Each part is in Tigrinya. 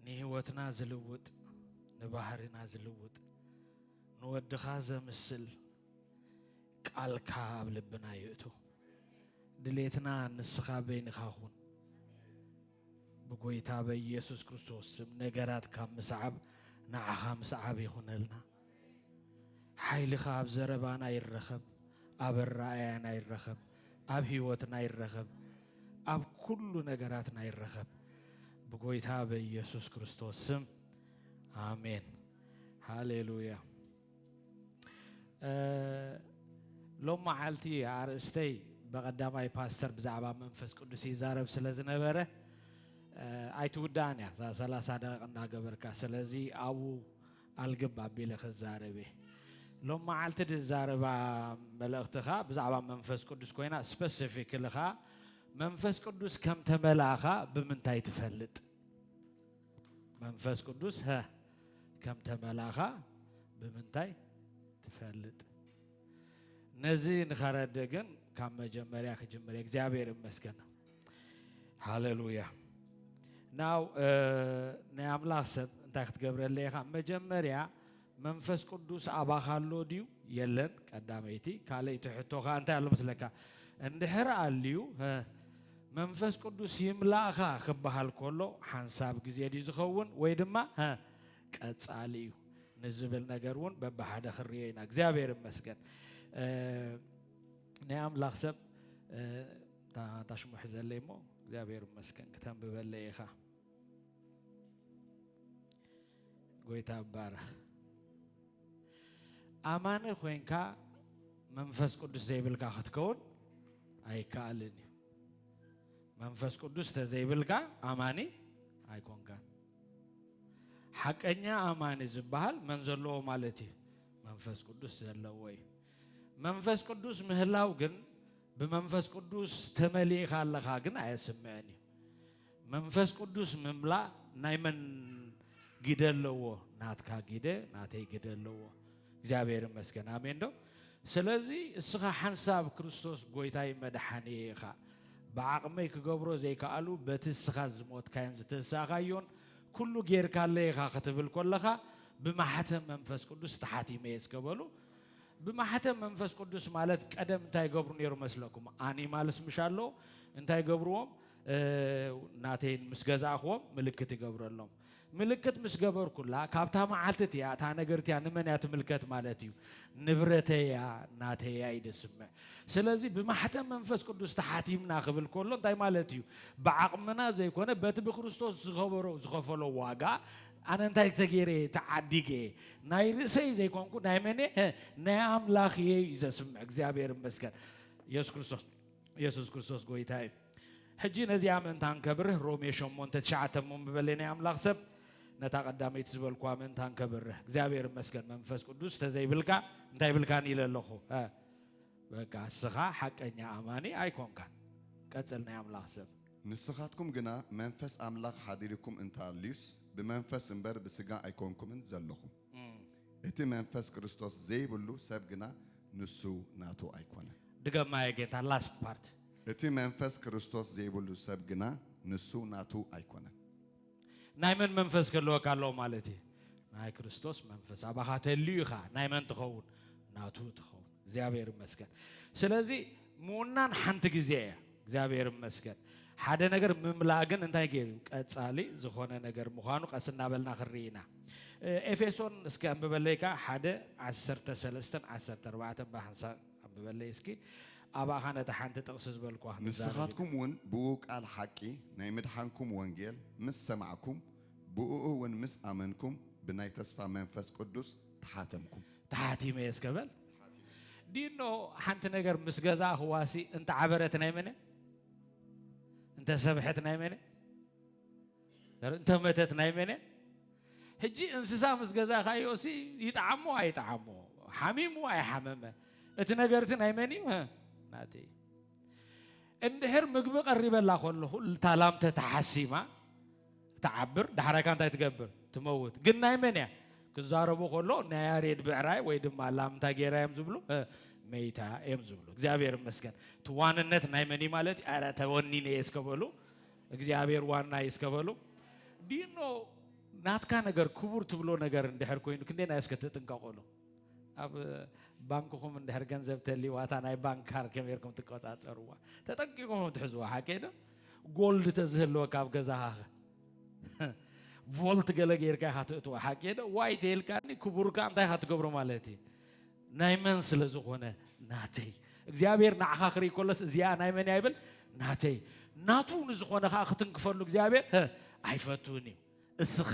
ንህይወትና ዝልውጥ ንባህሪና ዝልውጥ ንወድኻ ዘምስል ቃልካ ኣብ ልብና ይእቱ ድሌትና ንስኻ በይንኻ ኹን ብጎይታ በኢየሱስ ክርስቶስ ስም ነገራት ካብ ምስዓብ ንዓኻ ምስዓብ ይኹነልና ሓይልኻ ኣብ ዘረባና ይረኸብ፣ ኣብ ኣረኣእያና ይረኸብ፣ ኣብ ህይወትና ይረኸብ፣ ኣብ ኩሉ ነገራትና ይረኸብ። ብጎይታ በኢየሱስ ክርስቶስ ስም ኣሜን። ሃሌሉያ። ሎም መዓልቲ ኣርእስተይ ብቐዳማይ ፓስተር ብዛዕባ መንፈስ ቅዱስ ይዛረብ ስለ ዝነበረ ኣይትውዳእን እያ እዛ ሰላሳ ደቂቕ እናገበርካ ስለዚ ኣብኡ ኣልግብ ኣቢለ ክዛረብ እየ ሎም መዓልቲ ድዛረባ መልእኽቲ ከኣ ብዛዕባ መንፈስ ቅዱስ ኮይና ስፐሲፊክሊ ከኣ መንፈስ ቅዱስ ከም ተመላእኻ ብምንታይ ትፈልጥ መንፈስ ቅዱስ ሀ ከም ተመላእኻ ብምንታይ ትፈልጥ ነዚ ንኸረድ ግን ካብ መጀመርያ ክጅምር እግዚኣብሔር ይመስገን ሃለሉያ ናው ናይ ኣምላኽ ሰብ እንታይ ክትገብረለ ኢኻ መጀመርያ መንፈስ ቅዱስ ኣባኻ ኣሎ ድዩ የለን ቀዳመይቲ ካልእቲ ሕቶ ከዓ እንታይ ኣሎ መስለካ እንድሕር ኣልዩ መንፈስ ቅዱስ ይምላእኻ ክበሃል ከሎ ሓንሳብ ግዜ ድዩ ዝኸውን ወይ ድማ ቀጻሊ እዩ ንዝብል ነገር እውን በብሓደ ክንሪኦ ኢና እግዚኣብሔር ይመስገን ናይ ኣምላኽ ሰብ እታ እታ ሽሙ ሕዘለይ እሞ እግዚኣብሔር ይመስገን ክተንብበለይ ኢኻ ጎይታ ይባረኽ ኣማኒ ኮንካ መንፈስ ቅዱስ ዘይብልካ ክትከውን ኣይከኣልን እዩ መንፈስ ቅዱስ ተዘይብልካ ኣማኒ ኣይኮንካን ሓቀኛ ኣማኒ ዝበሃል መን ዘለዎ ማለት እዩ መንፈስ ቅዱስ ዘለዎ እዩ መንፈስ ቅዱስ ምህላው ግን ብመንፈስ ቅዱስ ተመሊእኻ ኣለኻ ግን ኣየስምዕን እዩ መንፈስ ቅዱስ ምምላእ ናይ መን ግደ ኣለዎ ናትካ ግደ ናተይ ግደ ኣለዎ እግዚኣብሔር ይመስገን ኣሜን ዶ ስለዚ እስኻ ሓንሳብ ክርስቶስ ጎይታይ መድሓኒ ኢኻ ብዓቕመይ ክገብሮ ዘይከኣሉ በቲ እስኻ ዝሞትካዮን ዝተንሳእኻዮን ኩሉ ጌርካለ ኢኻ ክትብል ኮለኻ ብማሕተም መንፈስ ቅዱስ ተሓቲመ እየ ዝከበሉ ብማሕተም መንፈስ ቅዱስ ማለት ቀደም እንታይ ገብሩ ነይሩ መስለኩም? ኣኒማልስ ምሽ ኣሎ እንታይ ገብርዎም? ናተይን ምስ ገዛእኽዎም ምልክት ይገብረሎም። ምልክት ምስ ገበርኩላ ካብታ መዓልቲ እቲያ እታ ነገር እቲያ ንመን እያ ትምልከት ማለት እዩ? ንብረተያ ናተያ እዩ ደስምዕ። ስለዚ ብማሕተም መንፈስ ቅዱስ ተሓቲምና ክብል ከሎ እንታይ ማለት እዩ? ብዓቕምና ዘይኮነ በቲ ብክርስቶስ ዝኸበሮ ዝኸፈሎ ዋጋ ኣነ እንታይ ተገይረ እየ ተዓዲገ ናይ ርእሰይ ዘይኮንኩ ናይ መን እየ ናይ ኣምላኽ እየ እዩ ዘስምዕ እግዚኣብሔር ይመስገን ኢየሱስ ክርስቶስ ኢየሱስ ክርስቶስ ጎይታ እዩ ሕጂ ነዚኣ ምእንታ ንከብርህ ሮሜ ሸሞንተ ትሽዓተ እሞ ምበለ ናይ ኣምላኽ ሰብ ነታ ቀዳመይቲ ዝበልኳ ምእንታ ንከብርህ እግዚኣብሔር ይመስገን መንፈስ ቅዱስ ተዘይብልካ እንታይ ብልካን ኢለ ኣለኹ በቃ እስኻ ሓቀኛ ኣማኒ ኣይኮንካን ቀፅል ናይ ኣምላኽ ሰብ ንስኻትኩም ግና መንፈስ ኣምላኽ ሓዲሩኩም እንተ ኣልዩስ፣ ብመንፈስ እምበር ብስጋ ኣይኮንኩምን ዘሎኹም። እቲ መንፈስ ክርስቶስ ዘይብሉ ሰብ ግና ንሱ ናቱ ኣይኮነን። ድገማዮ ጌታ last part። እቲ መንፈስ ክርስቶስ ዘይብሉ ሰብ ግና ንሱ ናቱ ኣይኮነን። ናይ መን መንፈስ ክህልወካ ኣለዎ ማለት እዩ? ናይ ክርስቶስ መንፈስ ኣባኻ ተልዩ ኢኻ። ናይ መን ትኸውን? ናቱ ትኸውን። እግዚኣብሔር ይመስገን። ስለዚ ምውናን ሓንቲ ግዜ እያ። እግዚኣብሔር ይመስገን። ሓደ ነገር ምምላእ ግን እንታይ ገይሩ ቀጻሊ ዝኾነ ነገር ምዃኑ ቀስ እናበልና ክንርኢ ኢና። ኤፌሶን እስከ ኣንብበለይካ ሓደ ዓሰርተ ሰለስተን ዓሰርተ ኣርባዕተን ብሓንሳብ ኣንብበለይ እስኪ ኣባኻ ነታ ሓንቲ ጥቕሲ ዝበልኩዋ ክንዛረብ ኢና። ንስኻትኩም እውን ብእኡ ቃል ሓቂ ናይ ምድሓንኩም ወንጌል ምስ ሰማዕኩም ብእኡ እውን ምስ ኣመንኩም ብናይ ተስፋ መንፈስ ቅዱስ ተሓተምኩም። ተሓቲመ እየ እስከ በል። ዲኖ ሓንቲ ነገር ምስ ገዛእኽዋሲ እንተዓበረት ናይ መን እያ? እንተሰብሐት ናይ መን እያ? እንተ መተት ናይ መን እያ? ሕጂ እንስሳ ምስ ገዛኻዮ ሲ ይጥዓሞ ኣይጥዓሞ ሓሚሙ ኣይሓመመ እቲ ነገርቲ ናይ መን እዩ? ናተይ እዩ። እንድሕር ምግቢ ቀሪበላ ከለኹ እታ ላም ተተሓሲማ ትዓብር ዳሕራይካ እንታይ ትገብር ትመውት ግን ናይ መን እያ ክዛረቡ ከሎ ናይ ያሬድ ብዕራይ ወይ ድማ ላምታ ጌራ እዮም ዝብሉ እ፣ መይታ እዮም ዝብሉ እግዚኣብሔር ይመስገን እቲ ዋንነት ናይ መን እዩ ማለት እዩ ኣረ ተወኒነ እየ እስከ በሉ እግዚኣብሔር ዋናይ እስከ በሉ ዲኖ ናትካ ነገር ክቡር ትብሎ ነገር እንድሕር ኮይኑ ክንደና እስከ ትጥንቀቁሉ ኣብ ባንክኹም እንድሕር ገንዘብ ተሊዋታ ናይ ባንክ ካር ከመርኩም ትቆፃፀርዋ ተጠንቂቁም ትሕዝዋ ሓቂ ዶ ጎልድ ተዝህልወካ ኣብ ገዛኻ ቮልት ገለ ጌርካ ኢኻ ትእትዋ ሓቂ ዶ ዋይ ተልካኒ ክቡርካ እንታይ ኢኻ ትገብሮ ማለት እዩ ናይ መን ስለ ዝኾነ ናተይ እግዚኣብሔር ንዓኻ ክርኢ ከሎስ እዚኣ ናይ መን እያ ይብል ናተይ ናቱ ንዝኾነ ከዓ ክትንክፈሉ እግዚኣብሔር ህ፣ ኣይፈትውን እዩ እስኻ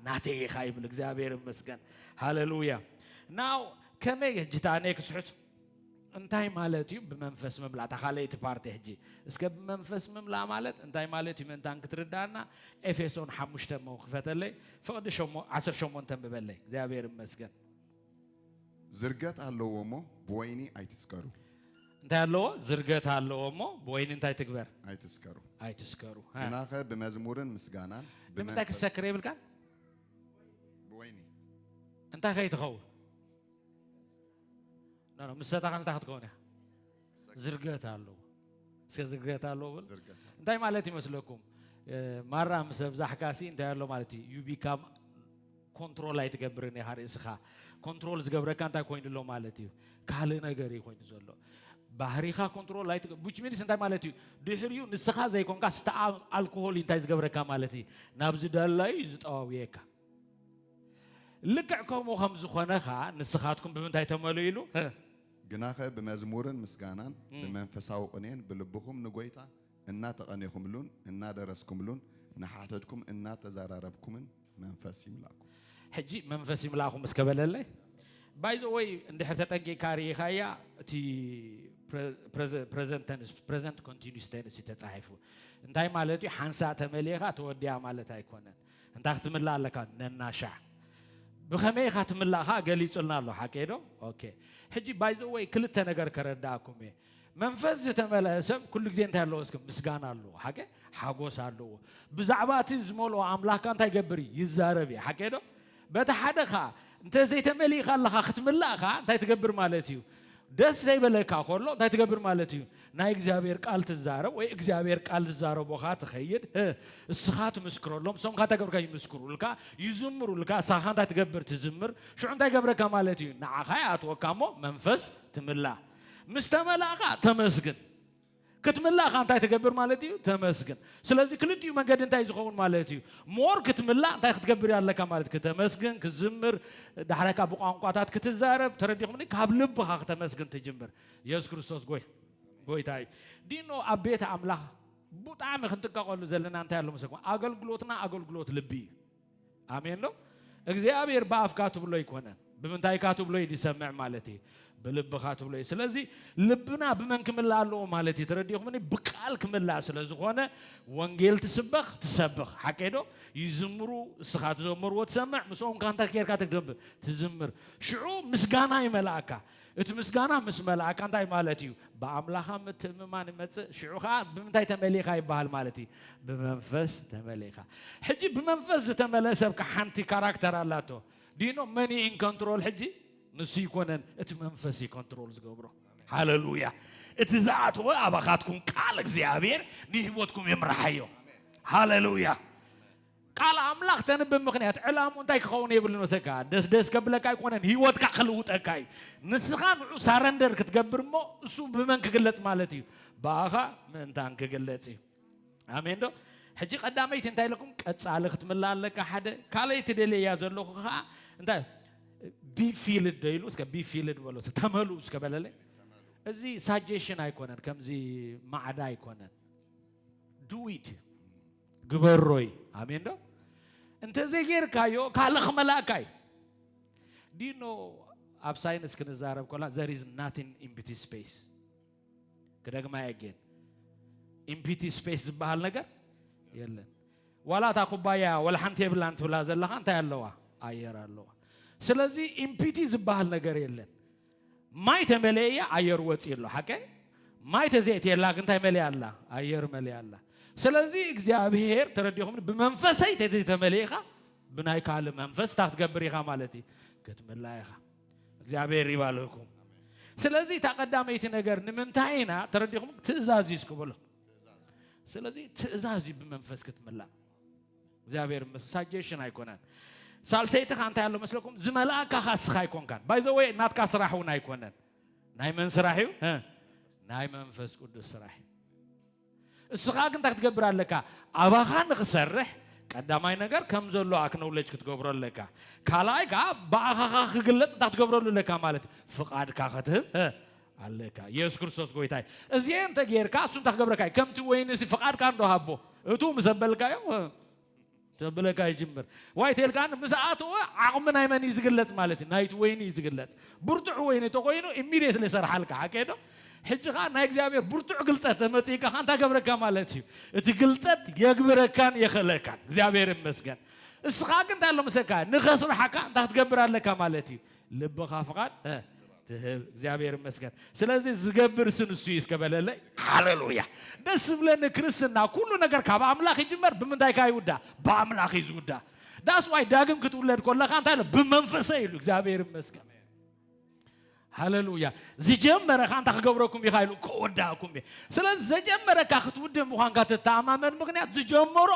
ናተይ ኢኻ ይብል እግዚኣብሔር ይመስገን ሃሌሉያ ናው ከመይ ሕጂ እታ እኔ ክስሑት እንታይ ማለት እዩ ብመንፈስ ምምላእ እታ ካልኣይቲ ፓርቲ ሕጂ እስከ ብመንፈስ ምምላእ ማለት እንታይ ማለት እዩ ምእንታን ክትርዳእና ኤፌሶን ሓሙሽተ እሞ ክፈተለይ ፍቕዲ ሸሞ- ዓሰርተ ሸሞንተ ንብበለይ እግዚኣብሔር ይመስገን ዝርገት ኣለዎ እሞ ብወይኒ ኣይትስከሩ። እንታይ ኣለዎ? ዝርገት ኣለዎ እሞ ብወይኒ እንታይ ትግበር? ኣይትስከሩ። ኣይትስከሩ። ሃ። ግናኸ ብመዝሙርን ምስጋናን ንምንታይ ብመንፈስ ክትሰክር የብልካን? ብወይኒ እንታይ ከይትኸውን? ኖ፣ ኖ፣ ምስ ሰታኻ እንታይ ክትከውን እያ? ዝርገት ኣለዎ እስከ ዝርገት ኣለዎ ብል እንታይ ማለት ይመስለኩም ማራ ምስ ኣብዛሕካ ሲ እንታይ ኣሎ ማለት እዩ ዩ ቢካም ኮንትሮል ኣይትገብርን ኢኻ ርእስኻ ኮንትሮል ዝገብረካ እንታይ ኮይኑ ኣሎ ማለት እዩ ካልእ ነገር እዩ ኮይኑ ዘሎ ባህሪኻ ኮንትሮል ኣይት ቡች ሚንስ እንታይ ማለት እዩ ድሕሪኡ ንስኻ ዘይኮንካ ስተ ኣልኮሆል እዩ እንታይ ዝገብረካ ማለት እዩ ናብ ዝደላዩ እዩ ዝጠዋውየካ ልክዕ ከምኡ ከም ዝኾነ ኸዓ ንስኻትኩም ብምንታይ ተመልኡ ኢሉ ግናኸ ብመዝሙርን ምስጋናን ብመንፈሳዊ ቕኔን ብልብኹም ንጐይታ እናተቐኔኹምሉን እናደረስኩምሉን ንሓተትኩም እናተዘራረብኩምን መንፈስ ይምላእኩም። ሕጂ መንፈስ ይምላእኩም እስከ በለለይ። ባይ ዘ ወይ እንድሕር ተጠንቂቕካ ርኢኻያ እቲ ፕረዘንት ተንስ ፕረዘንት ኮንቲኒስ ተንስ እዩ ተጻሒፉ። እንታይ ማለት እዩ? ሓንሳእ ተመሊእካ ተወዲኣ ማለት ኣይኮነን። እንታይ ክትምላእ ኣለካ ነናሻዕ ብኸመይ ኢኻ ትምላእ ከዓ ገሊጹልና ኣሎ ሓቂ ዶ ኦኬ ሕጂ ባይዘወይ ክልተ ነገር ከረዳእኩም እየ መንፈስ ዝተመልአ ሰብ ኩሉ ግዜ እንታይ ኣለዎ እስከ ምስጋና ኣለዎ ሓቂ ሓጎስ ኣለዎ ብዛዕባ እቲ ዝመልኦ ኣምላኽካ እንታይ ይገብር እዩ ይዛረብ እዩ ሓቂ ዶ በቲ ሓደ ከኣ እንተ ዘይተመሊእካ ኣለኻ ክትምላእ ከኣ እንታይ ትገብር ማለት እዩ ደስ ዘይበለካ ከሎ እንታይ ትገብር ማለት እዩ ናይ እግዚኣብሔር ቃል ትዛረብ ወይ እግዚኣብሔር ቃል ዝዛረቦኻ ትኸይድ እስኻ ትምስክረሎም እሶም ካ እንታይ ገብርካ ይምስክሩልካ ይዝምሩልካ እሳኻ እንታይ ትገብር ትዝምር ሽዑ እንታይ ገብረካ ማለት እዩ ንዓኻ ይኣትወካ እሞ መንፈስ ትምላ ምስ ተመላእኻ ተመስግን ክትምላእ ከ እንታይ ትገብር ማለት እዩ? ተመስግን። ስለዚ ክልቲኡ መንገዲ እንታይ ዝኸውን ማለት እዩ? ሞር ክትምላእ እንታይ ክትገብር እዩ ኣለካ ማለት ክተመስግን፣ ክትዝምር፣ ዳሕራይ ከዓ ብቋንቋታት ክትዛረብ ተረዲኹምኒ? ካብ ልብኻ ክተመስግን ትጅምር። የሱስ ክርስቶስ ጎይ ጎይታ እዩ። ዲኖ ኣብ ቤት ኣምላኽ ብጣዕሚ ክንጥቀቀሉ ዘለና እንታይ ኣሎ መሰለኩም? ኣገልግሎትና ኣገልግሎት ልቢ እዩ። ኣሜን ዶ እግዚኣብሔር ብኣፍካ ትብሎ ኣይኮነን ብምንታይካ ትብሎ እዩ ዝሰምዕ ማለት እዩ ብልብኻ ትብሎ እዩ ስለዚ ልብና ብመን ክምላእ ኣለዎ ማለት እዩ ተረዲኹምኒ ብቃል ክምላእ ስለ ዝኾነ ወንጌል ትስበኽ ትሰብኽ ሓቀይ ዶ ይዝምሩ እስኻ ትዘመርዎ ትሰምዕ ምስኦም ካ እንታይ ኬርካ ትገብር ትዝምር ሽዑ ምስጋና ይመልኣካ እቲ ምስጋና ምስ መላእካ እንታይ ማለት እዩ? ብኣምላኻ ምትእምማን ይመጽእ፣ ሽዑ ከኣ ብምንታይ ተመሊእካ ይበሃል ማለት እዩ? ብመንፈስ ተመሊእካ። ሕጂ ብመንፈስ ዝተመልአ ሰብ ከ ሓንቲ ካራክተር ኣላቶ። Do you know መን እዩ in control ሕጂ? ንሱ ኣይኮነን፣ እቲ መንፈስ እዩ control ዝገብሮ። ሃለሉያ! እቲ ዝኣተወ ኣባኻትኩም ቃል እግዚኣብሔር ንህይወትኩም ይምርሓዮ። ሃለሉያ! ቃል ኣምላኽ ተንብብ ምኽንያት ዕላምኡ እንታይ ክኸውን የብሉን መሰልካ ደስ ደስ ከብለካ ኣይኮነን ሂወትካ ክልውጠካ እዩ ንስኻ ንዑ ሳረንደር ክትገብር እሞ እሱ ብመን ክግለጽ ማለት እዩ ብኣኻ ምእንታን ክግለጽ እዩ ኣሜን ዶ ሕጂ ቀዳመይቲ እንታይ ለኩም ቀጻሊ ክትምላ ኣለካ ሓደ ካልኣይቲ ደልያ ዘለኹ ከዓ እንታይ ቢፊልድ ዶ ኢሉ እስከ ቢፊልድ በሎ ተመልኡ እስከ በለለ እዚ ሳጀሽን ኣይኮነን ከምዚ ማዕዳ ኣይኮነን ዱዊት ግበሮ እዩ ኣሜን ዶ እንተዘይ ጌርካዮ ካልእ ክመላእካ እዩ ዲኖ ኣብ ሳይንስ ክንዛረብ ኮላ ዘር ኢዝ ናቲን ኢምፒቲ ስፔስ ክደግማ የጌን ኢምፒቲ ስፔስ ዝበሃል ነገር የለን ዋላ እታ ኩባያ ወላ ሓንቲ የብላን ትብላ ዘለኻ እንታይ ኣለዋ ኣየር ኣለዋ ስለዚ ኢምፒቲ ዝበሃል ነገር የለን ማይ ተመለእያ ኣየር ወፂ ኣሎ ሓቀ ማይ ተዘእትየላ ግንታይ መሊኣ ኣላ ኣየር መሊኣ ኣላ ስለዚ እግዚኣብሄር ተረዲኹም ብመንፈሰይ ተዘይተመሊእኻ ብናይ ካልእ መንፈስ እታ ክትገብር ኢኻ ማለት እዩ ክትምላ ኢኻ እግዚኣብሄር ይባልኩም ስለዚ እታ ቀዳመይቲ ነገር ንምንታይ ኢና ተረዲኹም ትእዛዝ እዩ ስክበሎ ስለዚ ትእዛዝ እዩ ብመንፈስ ክትምላእ እግዚኣብሔር ምስ ሳጀሽን ኣይኮነን ሳልሰይትኻ እንታይ ኣሎ መስለኩም ዝመልኣካ ካስኻ ኣይኮንካን ባይዘወ ናትካ ስራሕ እውን ኣይኮነን ናይ መን ስራሕ እዩ ናይ መንፈስ ቅዱስ ስራሕ እዩ እስኻ ግን እንታይ ክትገብር ኣለካ ኣባኻ ንክሰርሕ ቀዳማይ ነገር ከም ዘሎ ኣክኖውለጅ ክትገብሮ ኣለካ ካልኣይ ከዓ ብኣኻኻ ክግለፅ እንታይ ክትገብረሉ ኣለካ ማለት ፍቓድካ ከትህብ ኣለካ የሱስ ክርስቶስ ጎይታ እዩ እዚኤ እንተ ጌርካ እሱ እንታይ ክገብረካ እዩ ከምቲ ወይኒ እዚ ፍቓድካ እንዶ ሃቦ እቱ ምስ ኣበልካዮ ተብለካ ይጅምር ዋይ ተልካ ምስ ኣተወ ዓቕሚ ናይ መን እዩ ዝግለጽ ማለት እዩ ናይቲ ወይኒ እዩ ዝግለጽ ብርቱዕ ወይኒ እንተኮይኑ ኢሚድየትሊ ሰርሓልካ ሓቀይ ዶ ሕጂ ከዓ ናይ እግዚኣብሔር ብርቱዕ ግልጸት ተመጽእካ ከዓ እንታይ ገብረካ ማለት እዩ እቲ ግልጸት የግብረካን የኽእለካን እግዚኣብሔር ይመስገን እስኻ ግን እንታይ ኣሎ መሰካ ንኸስርሓካ እንታይ ክትገብር ኣለካ ማለት እዩ ልብኻ ፍቓድ እ ትህብ እግዚኣብሔር ይመስገን። ስለዚህ ዝገብር እሱ ንሱ እዩ እስከ በለለይ። ሃሌሉያ ደስ ዝብለኒ ክርስትና ኩሉ ነገር ካብ ኣምላኽ ይጅመር ብምንታይ ከ ይውዳ ብኣምላኽ እዩ ዝውዳ ዳስ ዋይ ዳግም ክትውለድ ኮለኻ እንታይ ኢሉ ብመንፈሰ ኢሉ እግዚኣብሔር ይመስገን ሃሌሉያ ዝጀመረኻ እንታይ ክገብረኩም ኢኻ ኢሉ ከወዳእኩም እዩ ስለዚ ዘጀመረካ ክትውድእ ምዃንካ ትተኣማመን ምክንያት ዝጀመሮ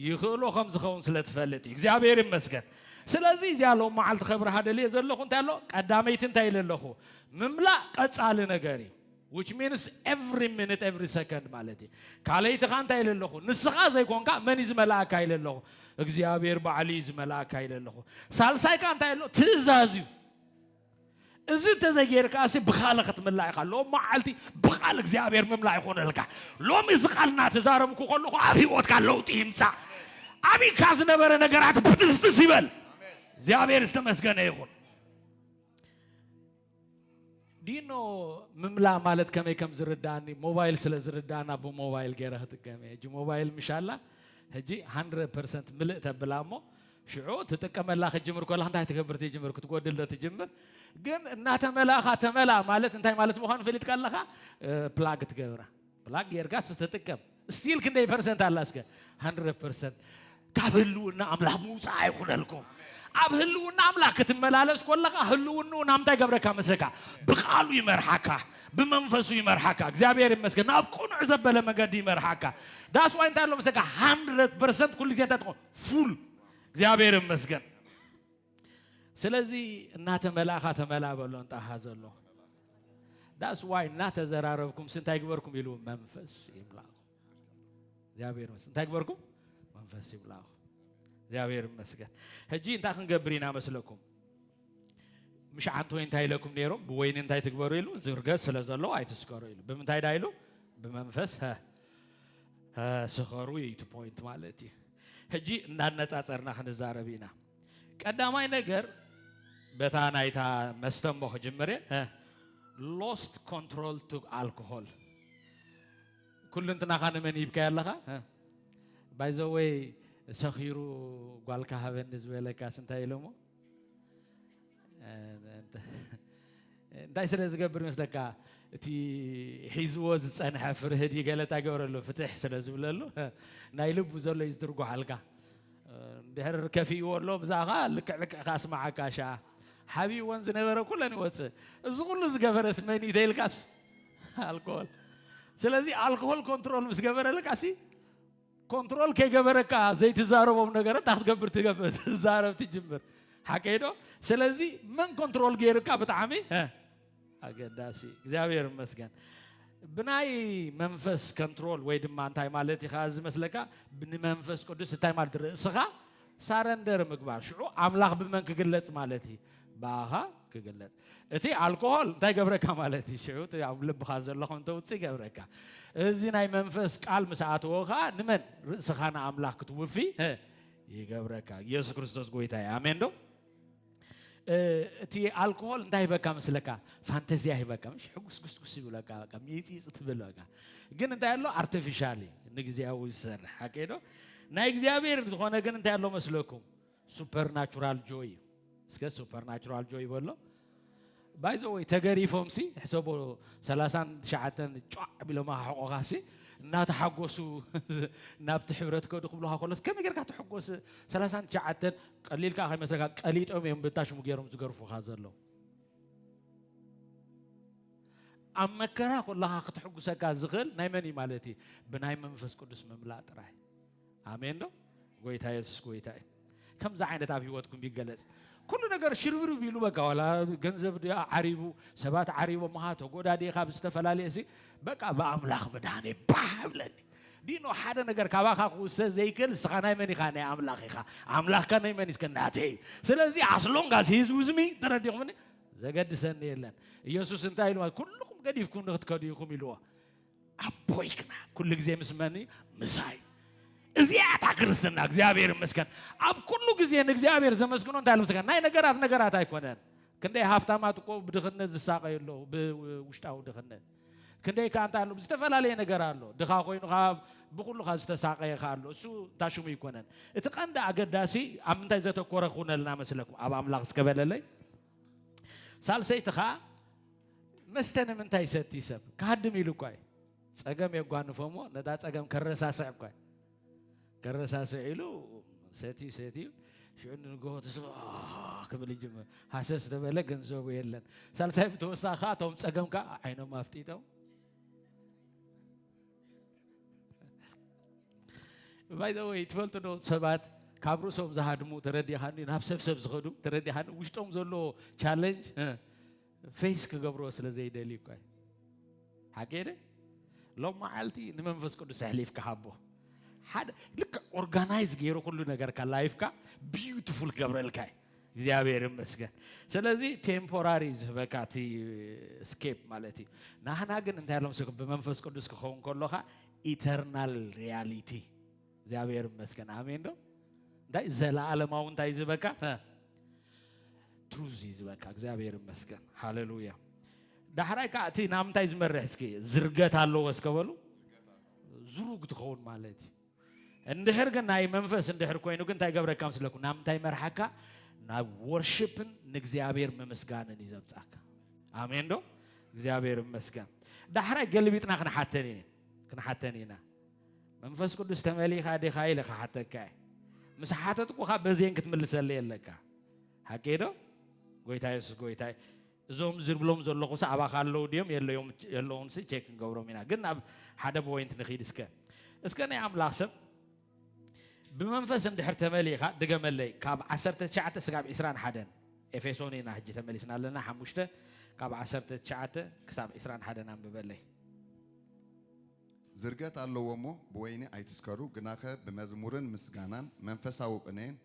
ይኽእሎ ከም ዝኸውን ስለ ትፈልጥ እዩ እግዚኣብሔር ይመስገን ስለዚ እዚኣ ሎም መዓልቲ ከብርሃ ደልየ ዘለኹ እንታይ ኣሎ ቀዳመይቲ እንታይ ኢለ ኣለኹ ምምላእ ቀፃሊ ነገር እዩ which means every minute every second ማለት እዩ ካልኣይቲ ከዓ እንታይ ኢለ ኣለኹ ንስኻ ዘይኮንካ መን እዩ ዝመልኣካ ኢለ ኣለኹ እግዚኣብሔር ባዕሉ እዩ ዝመልኣካ ኢለ ኣለኹ ሳልሳይ ከዓ እንታይ ኣሎ ትእዛዝ እዩ እዚ እንተዘይጌርካሲ ብካልእ ክትምላ ኢኻ። ሎሚ መዓልቲ ብቃል እግዚኣብሔር ምምላእ ይኹነልካ። ሎሚ እዚ ቃል እናተዛረብኩ ከለኹ ኣብ ህይወትካ ለውጢ ይምፃእ። ኣቢካ ዝነበረ ነገራት ብትስትስ ይበል። እግዚኣብሔር ዝተመስገነ ይኹን። ዲኖ ምምላእ ማለት ከመይ ከም ዝርዳእኒ ሞባይል ስለ ዝርዳእና ብሞባይል ገይረ ክጥቀም እየ ሕጂ ሞባይል ምሻላ ሕጂ 100 ፐርሰንት ምልእ ተብላ እሞ ሽዑ ትጥቀመላ ክትጅምር ከለኻ እንታይ ትገብር ትጅምር ክትጎድል ዶ ትጅምር ግን እናተመላእኻ ተመላ ማለት እንታይ ማለት ምዃኑ ፈሊጥካ ኣለኻ ፕላግ ትገብራ ፕላግ ጌርካ ስትጥቀም ስቲል ክንደይ ፐርሰንት ኣላ እስከ 100 ፐርሰንት ካብ ህልውና ኣምላኽ ምውፃእ ኣይኹነልኩም ኣብ ህልውና ኣምላኽ ክትመላለስ ኮለኻ ህልውንኡ ናብ እንታይ ገብረካ መስለካ ብቃሉ ይመርሓካ ብመንፈሱ ይመርሓካ እግዚኣብሔር ይመስገን ናብ ቅኑዕ ዘበለ መገዲ ይመርሓካ ዳስዋይ እንታይ ኣሎ መስለካ ሃንድረት ፐርሰንት ኩሉ ግዜ እንታይ ትኾን ፉል እግዚኣብሔር ይመስገን። ስለዚ እናተመላእኻ ተመላ በሎ እንጣሃ ዘሎ ዳስ ዋይ እናተዘራረብኩም ስንታይ ግበርኩም ኢሉ መንፈስ ይምላኹ እግዚኣብሔር ይመስገን። እንታይ ግበርኩም መንፈስ ይምላኹ እግዚኣብሔር ይመስገን። ሕጂ እንታይ ክንገብር ኢና መስለኩም? ምሽዓንት ወይ እንታይ ኢለኩም ነይሩ ብወይኒ እንታይ ትግበሩ ኢሉ ዝርገ ስለ ዘሎ ኣይትስከሩ ኢሉ ብምንታይ ዳ ኢሉ ብመንፈስ ስኸሩ እዩ እቲ ፖይንት ማለት እዩ። ሕጂ እንዳነፃፀርና ክንዛረብ ኢና። ቀዳማይ ነገር በታ ናይታ መስተ እሞ ክጅምር እየ ሎስት ኮንትሮል ቱ ኣልኮሆል ኩሉ እንትናኻ ንመን ሂብካዮ ኣለኻ ባይዘወይ ሰኺሩ ጓልካ ሃበኒ ዝበለካስ እንታይ ኢሎሞ እንታይ ስለ ዝገብር ይመስለካ እቲ ሒዝዎ ዝፀንሐ ፍርህ ድዩ ገለ እንታይ ገብረሉ ፍትሕ ስለ ዝብለሉ ናይ ልቡ ዘሎ እዩ ዝትርጓሓልካ ድሕር ከፊእዎ ኣሎ ብዛኻ ልክዕ ልክዕ ካስማዓካ ሻ ሓቢእዎን ዝነበረ ኩለን ይወፅእ እዚ ኩሉ ዝገበረስ መን እዩ ተይልካስ ኣልኮል ስለዚ ኣልኮል ኮንትሮል ምስ ገበረልካ ሲ ኮንትሮል ከይገበረካ ዘይትዛረቦም ነገረ እንታይ ክትገብር ትገብር ትዛረብ ትጅምር ሓቀይ ዶ ስለዚ መን ኮንትሮል ገይርካ ብጣዕሚ ኣገዳሲ እግዚኣብሔር ይመስገን ብናይ መንፈስ ኮንትሮል ወይ ድማ እንታይ ማለት ኢኻ ዝመስለካ ንመንፈስ ቅዱስ እንታይ ማለት ርእስኻ ሳረንደር ምግባር ሽዑ ኣምላኽ ብመን ክግለጽ ማለት እዩ ብኣኻ ክግለጽ እቲ ኣልኮሆል እንታይ ገብረካ ማለት እዩ ሽዑ እቲ ኣብ ልብኻ ዘሎ ከም ተውፅእ ይገብረካ እዚ ናይ መንፈስ ቃል ምስ ኣተወ ከዓ ንመን ርእስኻ ንኣምላኽ ክትውፊ እ፣ ይገብረካ ኢየሱስ ክርስቶስ ጎይታ እዩ ኣሜን ዶ እቲ ኣልኮሆል እንታይ ይበካ መስለካ ፋንተዚያ ይበካ ምሽ ሕጉስ ጉስጉስ ይብለካ በቃ ሚፂፅ ትብል በቃ ግን እንታይ ኣሎ ኣርቲፊሻል ንግዚያዊ ዝሰርሕ ኣኬዶ ናይ እግዚኣብሔር ዝኾነ ግን እንታይ ኣሎ መስለኩም ሱፐርናቹራል ጆይ እዩ እስከ ሱፐርናቹራል ጆይ በሎ ባይ ዘ ወይ ተገሪፎም ሲ ሕሰቦ ሰላሳን ትሽዓተን ጫዕ ቢሎማ ክሕቆኻ ሲ እናተሓጎሱ ናብቲ ሕብረት ከዱ ክብሉካ ከሎስ ከመይ ጌርካ ትሕጎስ ሰላሳን ትሽዓተን ቀሊል ከዓ ከይመስለካ ቀሊጦም እዮም ብታሽሙ ገይሮም ዝገርፉካ ዘለዉ ኣብ መከራ ኮለኻ ክትሕጉሰካ ዝኽእል ናይ መን እዩ ማለት እዩ ብናይ መንፈስ ቅዱስ ምምላእ ጥራይ ኣሜን ዶ ጎይታ የሱስ ጎይታ እዩ ከምዚ ዓይነት ኣብ ህይወትኩም ይገለጽ ኩሉ ነገር ሽርብርብ ኢሉ በቃ ዋላ ገንዘብ ድኣ ዓሪቡ ሰባት ዓሪቦምኻ ተጎዳዲኻ ብዝተፈላለየ ሲ በቃ ብኣምላኽ ምድሃነ ባህ ብለኒ ዲኖ ሓደ ነገር ካባኻ ክውሰ ዘይክእል ንስኻ ናይ መን ኢኻ ናይ ኣምላኽ ኢኻ ኣምላኽካ ናይ መን እስከ ናተይ እዩ ስለዚ ኣስሎንጋስ ሂዝ ውዝሚ ተረዲኹምኒ ዘገድሰኒ የለን ኢየሱስ እንታይ ኢልዋ ኩልኹም ገዲፍኩም ንክትከዱ ኢኹም ኢልዎ ኣቦይ ግና ኩሉ ግዜ ምስ መን እዩ ምሳይ እዚኣ እታ ክርስትና እግዚኣብሔር ይመስገን ኣብ ኩሉ ግዜ ንእግዚኣብሔር ዘመስግኖ እንታይ ልምስጋ ናይ ነገራት ነገራት ኣይኮነን ክንደይ ሃብታማት እኮ ብድኽነት ዝሳቀዩ ኣለዉ ብውሽጣዊ ድኽነት ክንደይ ከዓ እንታይ ኣሎ ዝተፈላለየ ነገር ኣሎ ድኻ ኮይኑ ከዓ ብኩሉካ ዝተሳቀየ ከዓ ኣሎ እሱ እንታ ሽሙ ይኮነን እቲ ቀንዲ ኣገዳሲ ኣብ ምንታይ ዘተኮረ ክውነልና መስለኩም ኣብ ኣምላኽ እስከበለለይ ሳልሰይቲ ኸኣ መስተ ንምንታይ ይሰቲ ሰብ ክሃድም ኢሉ እኳ እዩ ጸገም የጓንፎ እሞ ነታ ጸገም ከረሳስዕ እኳ እዩ ከረሳስዕ ኢሉ ሰትዩ ሰትዩ ሽዑ ንንግሆ ትስብ ክብል ይጅምር ሃሰስ ዝበለ ገንዘቡ የለን ሳልሳይ ብተወሳኺ እቶም ጸገም ከዓ ዓይኖም ኣፍጢጦም ባይ ዘ ወይ ትፈልጡ ዶ ሰባት ካብ ርእሶም ዝሃድሙ ተረዲኻኒ ናብ ሰብ ሰብ ዝኸዱ ተረዲኻኒ ውሽጦም ዘሎ ቻለንጅ ፌስ ክገብሮ ስለ ዘይደልዩ እኳ ሓገደ ሎም መዓልቲ ንመንፈስ ቅዱስ ኣሕሊፍካ ሃቦ ሓደ ልክ ኦርጋናይዝ ገይሩ ኩሉ ነገርካ ላይፍካ ቢዩቲፉል ክገብረልካ እዩ እግዚኣብሔር ይመስገን ስለዚ ቴምፖራሪ ዝህበካ እቲ ስኬፕ ማለት እዩ ናህና ግን እንታይ ሎም ብመንፈስ ቅዱስ ክኸውን ከሎካ ኢተርናል ሪያሊቲ እግዚኣብሔር ይመስገን ኣሜን ዶ እንታይ ዘለዓለማዊ እንታይ ዝበካ ትሩዝ እዩ ዝበካ እግዚኣብሔር ይመስገን ሃሌሉያ ዳሕራይ ከዓ እቲ ናብ እንታይ ዝመርሕ እስኪ ዝርገት ኣለዎ እስከበሉ ዝሩግ ትኸውን ማለት እዩ እንድሕር ግን ናይ መንፈስ እንድሕር ኮይኑ ግን እንታይ ገብረካ ምስለኩ ናብ እንታይ መርሓካ ናብ ወርሽፕን ንእግዚኣብሔር ምምስጋንን እዩ ዘብጻካ ኣሜን ዶ እግዚኣብሔር ይመስገን ዳሕራይ ገልቢጥና ክንሓተን ክንሓተን ኢና መንፈስ ቅዱስ ተመሊኻ ዲኻ ኢለ ክሓተካ እየ ምስ ሓተትኩኻ በዜን ክትምልሰለይ ኣለካ ሓቂ ዶ ጎይታ የሱስ ጎይታ እዞም ዝብሎም ዘለኹስ ኣባኻ ኣለዉ ድዮም የለዉንሲ ቼክ ክንገብሮም ኢና ግን ናብ ሓደ ፖይንት ንኺድ እስከ እስከ ናይ ኣምላኽ ሰብ ብመንፈስ እንድሕር ተመሊእኻ ድገመለይ ካብ ዓሰርተ ትሽዓተ ስጋብ ዒስራን ሓደን ኤፌሶን ኢና ሕጂ ተመሊስና ኣለና ሓሙሽተ ካብ ዓሰርተ ትሽዓተ ክሳብ ዒስራን ሓደን ኣንብበለይ ዝርገት ኣለዎ እሞ ብወይኒ ኣይትስከሩ ግናኸ ብመዝሙርን ምስጋናን መንፈሳዊ ቅኔን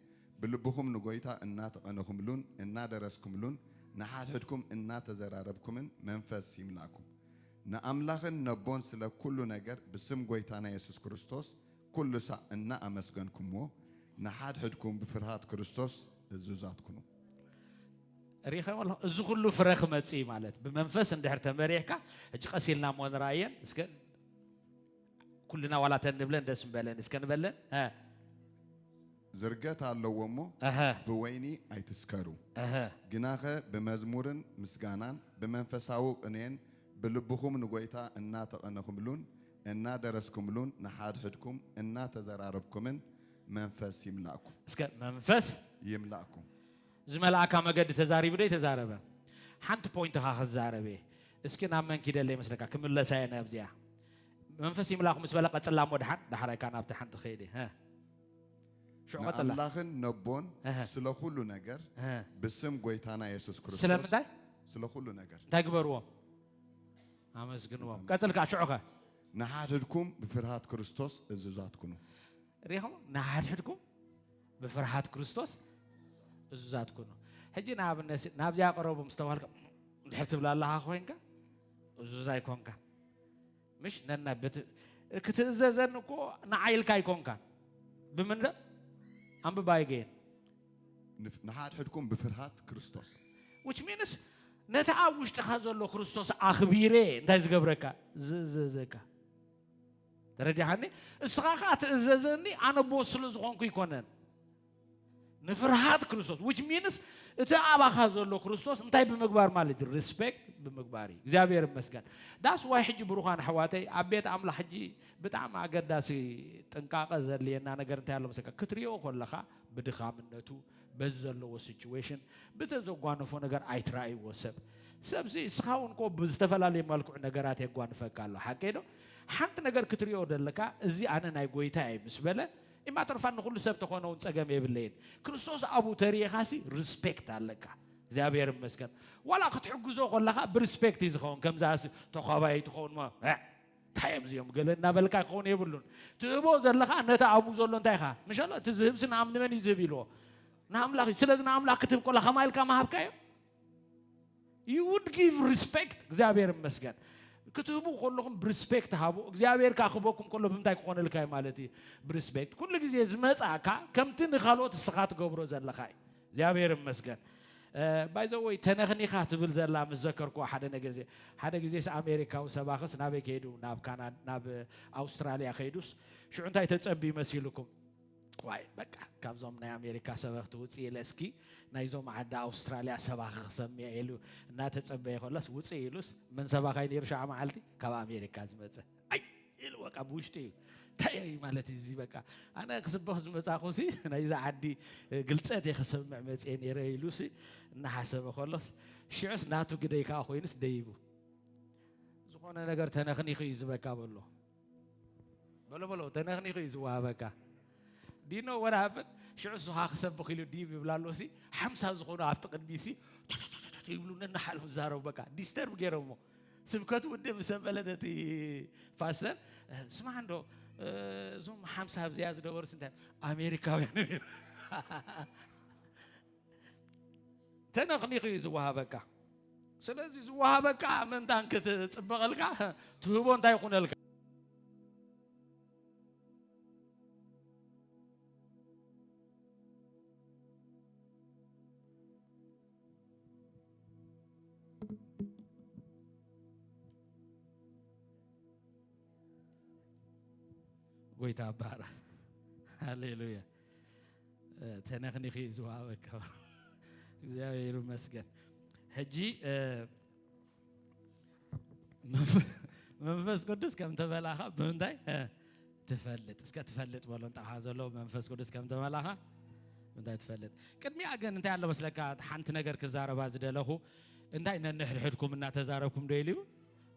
ብልብኹም ንጐይታ እናተቐነኹምሉን እናደረስክምሉን ንሓድሕድኩም እናተዘራረብኩምን መንፈስ ይምላእኩም ንኣምላኽን ነቦን ስለ ኩሉ ነገር ብስም ጐይታና የሱስ ክርስቶስ ኩሉ ሳዕ እናኣመስገንኩምዎ ንሓድሕድኩም ብፍርሃት ክርስቶስ እዙዛት ኩኑ። ሪኢኻዮ ኣለኹ እዚ ኩሉ ፍረ ክመጽእ እዩ ማለት ብመንፈስ እንድሕር ተመሪሕካ ሕጂ ቀስ ኢልና እሞ ንርኣየን እስከ ኩልና ዋላ እተን ንብለን ደስ ምበለን እስከ ንበለን ዝርገት ኣለዎ እሞ ብወይኒ ኣይትስከሩ ግናኸ ብመዝሙርን ምስጋናን ብመንፈሳዊ ቅኔን ብልብኹም ንጎይታ እናተቐነኹምሉን እናደረስኩምሉን ንሓድሕድኩም እናተዘራረብኩምን መንፈስ ይምላእኩም እስከ መንፈስ ይምላእኩም ዝመልኣካ መገዲ ተዛሪቡ ዶ ኣይተዛረበ ሓንቲ ፖይንት እኻ ክዛረብ እየ እስኪ ናብ መን ኪደለ ይመስለካ ክምለሳ እየ ናብዚኣ መንፈስ ይምላኹ ምስ በለ ቀጽላ እሞ ድሓን ዳሕራይ ካኣ ናብቲ ሓንቲ ከይዲ ሀ ሽዑ ቀጽላ ንኣምላኽን ነቦን እህ ስለ ዅሉ ነገር እህ ብስም ጐይታና የሱስ ክርስቶስ ስለምንታይ ስለ ዅሉ ነገር እንታይ ግበርዎ ኣመስግንዎም ቀጽል ካኣ ሽዑ ከ ንሓድሕድኩም ብፍርሃት ክርስቶስ እዙዛት ኩኑ። ሪኢኹም ንሓድሕድኩም ብፍርሃት ክርስቶስ እዙዛት ኩኑ። ሕጂ ንኣብነት ናብዚኣ ቀረቡ ምስ ተባህልካ ድሕር ትብል ኣለኻ ኮይንካ እዙዝ ኣይኮንካ ምሽ ነና ክትእዘዘኒ እኮ ንዓይ ኢልካ ኣይኮንካ ብምንዳ ኣንብባ ኣይገየን ንሓድሕድኩም ብፍርሃት ክርስቶስ which means ነቲ ኣብ ውሽጥኻ ዘሎ ክርስቶስ ኣኽቢረ እንታይ ዝገብረካ ዝእዘዘካ ተረዲኻኒ? እስኻ ከኣ ትእዘዘኒ ኣነ ቦስ ስለ ዝኾንኩ ኣይኮነን። ንፍርሃት ክርስቶስ which means እቲ ኣባኻ ዘሎ ክርስቶስ እንታይ ብምግባር ማለት እዩ ሪስፔክት ብምግባር እዩ እግዚኣብሔር ይመስገን ዳስ ዋይ ሕጂ ብሩኻን ኣሕዋተይ ኣብ ቤት ኣምላኽ ሕጂ ብጣዕሚ ኣገዳሲ ጥንቃቐ ዘድልየና ነገር እንታይ ኣሎ መሰካ ክትሪኦ ከለኻ ብድኻምነቱ በዚ ዘለዎ ሲቹዌሽን ብተዘጓነፎ ነገር ኣይትራእይዎ ሰብ ሰብዚ እስኻ እውን ኮ ብዝተፈላለየ መልክዑ ነገራት የጓንፈካ ኣሎ ሓቀይ ዶ ሓንቲ ነገር ክትሪኦ ደለካ እዚ ኣነ ናይ ጎይታ እየ ምስ በለ ኢማተርፋን ንኩሉ ሰብ ተኾነ እውን ጸገም የብለይን ክርስቶስ ኣብኡ ተሪኢኻሲ ሪስፔክት ኣለካ እግዚኣብሔር ይመስገን ዋላ ክትሕግዞ ከለካ ብሪስፔክት እዩ ዝኸውን ከምዛ ተኳባይ ትኸውን ሞ እንታይ እዮም እዚኦም ገለ እናበልካ ክኸውን የብሉን ትህቦ ዘለካ ነቲ ኣብኡ ዘሎ እንታይ ኢኻ ምሸሎ እቲ ዝህብሲ ንኣም ንመን እዩ ዝህብ ኢልዎ ንኣምላኽ እዩ ስለዚ ንኣምላኽ ክትህብ ከላ ከማ ኢልካ መሃብካዮ ዩ ውድ ጊቭ ሪስፔክት እግዚኣብሔር ይመስገን ክትህቡ ከለኹም ብሪስፔክት ሃቡ እግዚኣብሔር ከዓ ክበኩም ከሎ ብምንታይ ክኾነልካ እዩ ማለት እዩ ብሪስፔክት ኩሉ ግዜ ዝመፅእካ ከምቲ ንካልኦት እስኻ ትገብሮ ዘለኻ እዩ እግዚኣብሔር ይመስገን ባይዘወይ ተነኽኒኻ ትብል ዘላ ምስ ዘከርኩዋ ሓደ ነገዜ ሓደ ግዜስ ኣሜሪካዊ ሰባኽስ ናበይ ከይዱ ናብ ካናዳ ናብ ኣውስትራልያ ከይዱስ ሽዑ እንታይ ተፀንቢ መሲልኩም ዋይ በቃ ካብዞም ናይ ኣሜሪካ ሰበኽቲ ውፅእ ኢለ እስኪ ናይዞም ዓዲ ኣውስትራልያ ሰባኺ ክሰምዕ ኢሉ እናተፀበየ ከሎስ ውፅእ ኢሉስ መን ሰባኻይ ነይሩ ሸዓ መዓልቲ ካብ ኣሜሪካ ዝመፀ ኣይ ኢሉ በቃ ብውሽጢ እዩ እንታይ እዩ ማለት እዩ እዚ በቃ ኣነ ክስበኽ ዝመፃኹሲ ናይዚ ዓዲ ግልፀት እየ ክሰምዕ መፅየ ነይረ ኢሉሲ እናሓሰበ ከሎስ ሽዑስ ናቱ ግደይ ከዓ ኮይኑስ ደይቡ ዝኾነ ነገር ተነኽኒኹ እዩ ዝበካ በሎ በሎ በሎ ተነኽኒኹ እዩ ዝወሃበካ ዲኖ ወር ሃብን ሽዑ ስኻ ክሰብኽ ኢሉ ዲብ ይብላ ኣሎ ሲ ሓምሳ ዝኾኑ ኣብቲ ቅድሚ ሲ ይብሉ ነናሓልፉ ዛረቡ በቃ ዲስተርብ ገይሮሞ ስብከቱ ውድ ምስ በለ ነቲ ፓስተር ስማዕ እንዶ እዞም ሓምሳ ኣብዚኣ ዝነበሩ ስንታይ ኣሜሪካውያን ተነኽኒኽ እዩ ዝወሃበካ። ስለዚ ዝወሃበካ ምእንታን ክትፅበቐልካ ትህቦ እንታይ ይኹነልካ? ጎይታ ባር ሃሌሉያ ተነኽኒኺ እዩ ዝወሃበካ እግዚኣብሔር ይመስገን ሕጂ መንፈስ ቅዱስ ከም ተበላኻ ብምንታይ ትፈልጥ እስከ ትፈልጥ በሎ ንጣኻ ዘሎ መንፈስ ቅዱስ ከም ተበላኻ እንታይ ትፈልጥ ቅድሚያ ግን እንታይ ኣሎ መስለካ ሓንቲ ነገር ክዛረባ ዝደለኹ እንታይ ነንሕድሕድኩም እናተዛረብኩም ዶ ኢሉ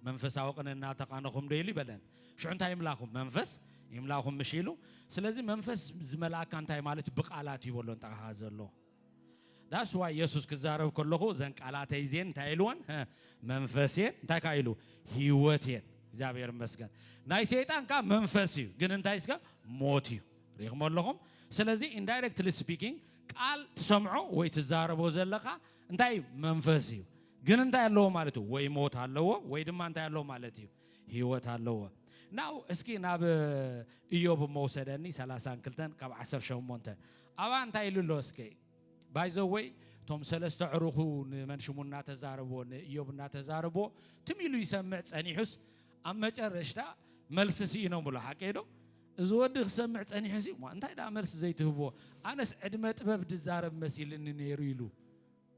መንፈሳዊ ቅን እናተቃነኹም ዶ ኢሉ ይበለን ሽዑ እንታይ ይምላኹም? መንፈስ ይምላኹም ምሽ ኢሉ። ስለዚ መንፈስ ዝመልኣካ እንታይ ማለት ብቃላት እዩ በሎ እንጠቃኻ ዘሎ ዳስ ዋይ የሱስ ክዛረብ ከለኹ ዘን ቃላተይ ዜን እንታይ ኢልወን መንፈስ እየን እንታይ ካ ኢሉ ህይወት እየን እግዚኣብሔር ይመስገን ናይ ሰይጣን ካ መንፈስ እዩ ግን እንታይ ስከ ሞት እዩ ሪኢኹም ኣለኹም ስለዚ ኢንዳይረክትሊ ስፒኪንግ ቃል ትሰምዖ ወይ ትዛረቦ ዘለኻ እንታይ መንፈስ እዩ ግን እንታይ ኣለዎ ማለት እዩ ወይ ሞት ኣለዎ ወይ ድማ እንታይ ኣለዎ ማለት እዩ ህይወት ኣለዎ ናው እስኪ ናብ እዮብ እሞ ውሰደኒ ሰላሳን ክልተን ካብ ዓሰርተ ሸሞንተ ኣብኣ እንታይ ኢሉ ኣሎ እስከ ባይዘወይ እቶም ሰለስተ ዕሩኹ ንመን ሽሙ እናተዛረብዎ ንእዮብ እናተዛረብዎ ትም ኢሉ ይሰምዕ ጸኒሑስ ኣብ መጨረሽታ መልሲ ስኢኖም ብሎ ሓቂ ዶ እዚ ወዲ ክሰምዕ ጸኒሑ ሲ እንታይ ደኣ መልሲ ዘይትህብዎ ኣነስ ዕድመ ጥበብ ድዛረብ መሲልኒ ነይሩ ኢሉ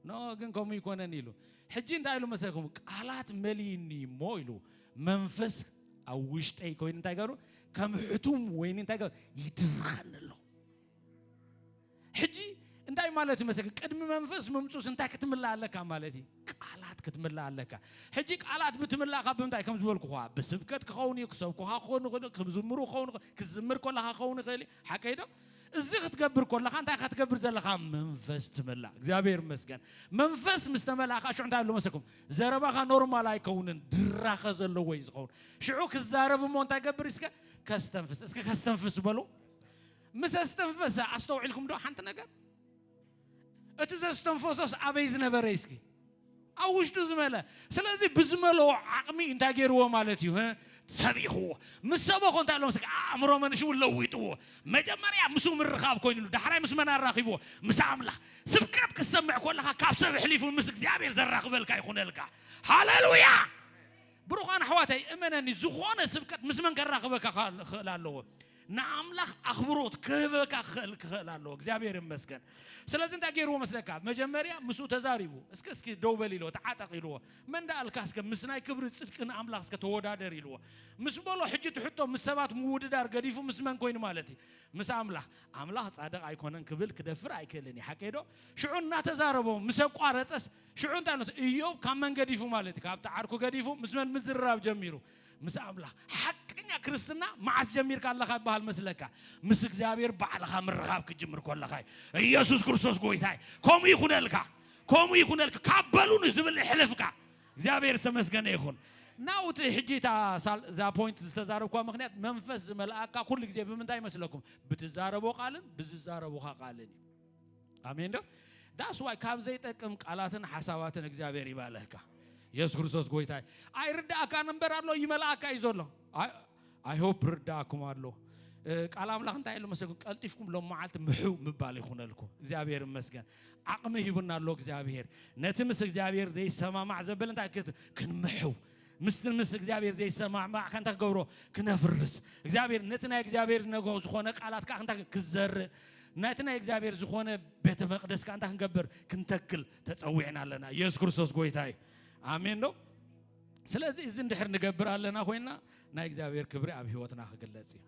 ኖህ ግን ከምኡ ይኮነን ኢሉ ሕጂ እንታይ ኢሉ መሰልኩም ቃላት መሊኒ እሞ ኢሉ መንፈስ ኣብ ውሽጠይ ኮይኑ እንታይ ገሩ ከም ሕቱም ወይኒ እንታይ ገሩ ይድርኸኒ ኣሎ ሕጂ እንታይ ማለት እዩ መሰለክ ቅድሚ መንፈስ ምምፁስ እንታይ ክትምላእ ኣለካ ማለት እዩ ቃላት ክትምላእ ኣለካ ሕጂ ቃላት ብትምላእ ካብ ብምንታይ ከም ዝበልኩኻ ብስብከት ክኸውን እዩ ክሰብኩኻ ክኾኑ ይኽእሉ ክዝምሩ ክኸውን ክዝምር ከለኻ ክኸውን ይኽእል እዩ ሓቀይ ዶ እዚ ክትገብር ከለኻ እንታይ ኢኻ ትገብር ዘለኻ? መንፈስ ትመላ። እግዚኣብሔር ይመስገን። መንፈስ ምስ ተመላእካ ሽዑ እንታይ ኣሎ መሰኩም? ዘረባኻ ኖርማል ኣይከውንን፣ ድራኸ ዘለዎ እዩ ዝኸውን። ሽዑ ክዛረብ እሞ እንታይ ገብር እስከ ከስተንፍስ፣ እስከ ከስተንፍስ በሉ። ምስ ኣስተንፈሰ ኣስተውዒልኩም ዶ ሓንቲ ነገር እቲ ዘስተንፈሶስ ኣበይ ዝነበረ እስኪ ኣብ ውሽጡ ዝመለ ስለዚ ብዝመለዎ ዓቕሚ እንታይ ገይርዎ ማለት እዩ ሰቢኽዎ ምስ ሰበኾ እንታይ ሎም ኣእምሮ መንሽው ለዊጥዎ መጀመርያ ምስ ምርኻብ ኮይኑሉ ዳሕራይ ምስ መን ኣራኺብዎ ምስ ኣምላኽ ስብከት ክትሰምዕ ኮለኻ ካብ ሰብ ሕሊፉ ምስ እግዚኣብሔር ዘራኽበልካ ይኹነልካ ሃሌሉያ ብሩኻን ኣሕዋተይ እመነኒ ዝኾነ ስብከት ምስ መን ከራኽበካ ክኽእል ኣለዎ ንኣምላኽ ኣኽብሮት ክህበካ ክኽእል ክኽእል ኣለዎ እግዚኣብሔር ይመስገን ስለዚ እንታይ ገይርዎ መስለካ መጀመርያ ምስኡ ተዛሪቡ እስከ እስኪ ደው በል ኢልዎ ተዓጠቕ ኢልዎ መን ዳኣልካ እስከ ምስ ናይ ክብሪ ጽድቂ ንኣምላኽ እስከ ተወዳደር ኢልዎ ምስ በሎ ሕጂ ትሕቶ ምስ ሰባት ምውድዳር ገዲፉ ምስ መን ኮይኑ ማለት እዩ ምስ ኣምላኽ ኣምላኽ ጻድቕ ኣይኮነን ክብል ክደፍር ኣይክእልን እዩ ሓቀይ ዶ ሽዑ እናተዛረቦ ምስ ኣቋረጸስ ሽዑ እንታይ ነት እዮብ ካብ መን ገዲፉ ማለት እዩ ካብቲ ዓርኩ ገዲፉ ምስ መን ምዝርራብ ጀሚሩ ምስ ኣምላኽ ሓቀኛ ክርስትና መዓስ ጀሚርካ ኣለኻ ይበሃል መስለካ? ምስ እግዚኣብሔር ባዕልኻ ምርኻብ ክትጅምር ከለኻ እዩ። ኢየሱስ ክርስቶስ ጎይታ እዩ። ከምኡ ይኹነልካ፣ ከምኡ ይኹነልካ። ካብ በሉ ንዝብል እሕልፍካ። እግዚኣብሔር ዝተመስገነ ይኹን። ናው እቲ ሕጂ እታ ሳል- እዛ ፖይንት ዝተዛረብኳ ምክንያት መንፈስ ዝመልኣካ ኩሉ ግዜ ብምንታይ ይመስለኩም? ብትዛረቦ ቃልን ብዝዛረቡኻ ቃልን እዩ። ኣሜን ዶ ዳስ ዋይ ካብ ዘይጠቅም ቃላትን ሓሳባትን እግዚኣብሔር ይባልህካ የሱስ ክርስቶስ ጎይታ ኣይርዳእካ ነበር ኣሎ ይመልኣካ እዩ ዘሎ ኣይሆፕ ርዳእኩም ኣሎ ቃል ኣምላኽ እንታይ ኢሉ መሰልኩም ቀልጢፍኩም ሎም መዓልቲ ምሕው ምባል ይኹነልኩም እግዚኣብሔር ይመስገን ዓቕሚ ሂቡና ኣሎ እግዚኣብሔር ነቲ ምስ እግዚኣብሔር ዘይሰማማዕ ዘበለ እንታይ ክንምሕው ምስቲ ምስ እግዚኣብሔር ዘይሰማዕማዕ ከንታ ክገብሮ ክነፍርስ እግዚኣብሔር ነቲ ናይ እግዚኣብሔር ዝነግሮ ዝኾነ ቃላት ከዓ ከንታ ክዘርእ ነቲ ናይ እግዚኣብሔር ዝኾነ ቤተ መቅደስ ከዓ እንታይ ክንገብር ክንተክል ተፀዊዕና ኣለና ኢየሱስ ክርስቶስ ጎይታ እዩ ኣሜን ዶ ስለዚ እዚ እንድሕር ንገብር ኣለና ኮይና ናይ እግዚኣብሔር ክብሪ ኣብ ህይወትና ክግለጽ እዩ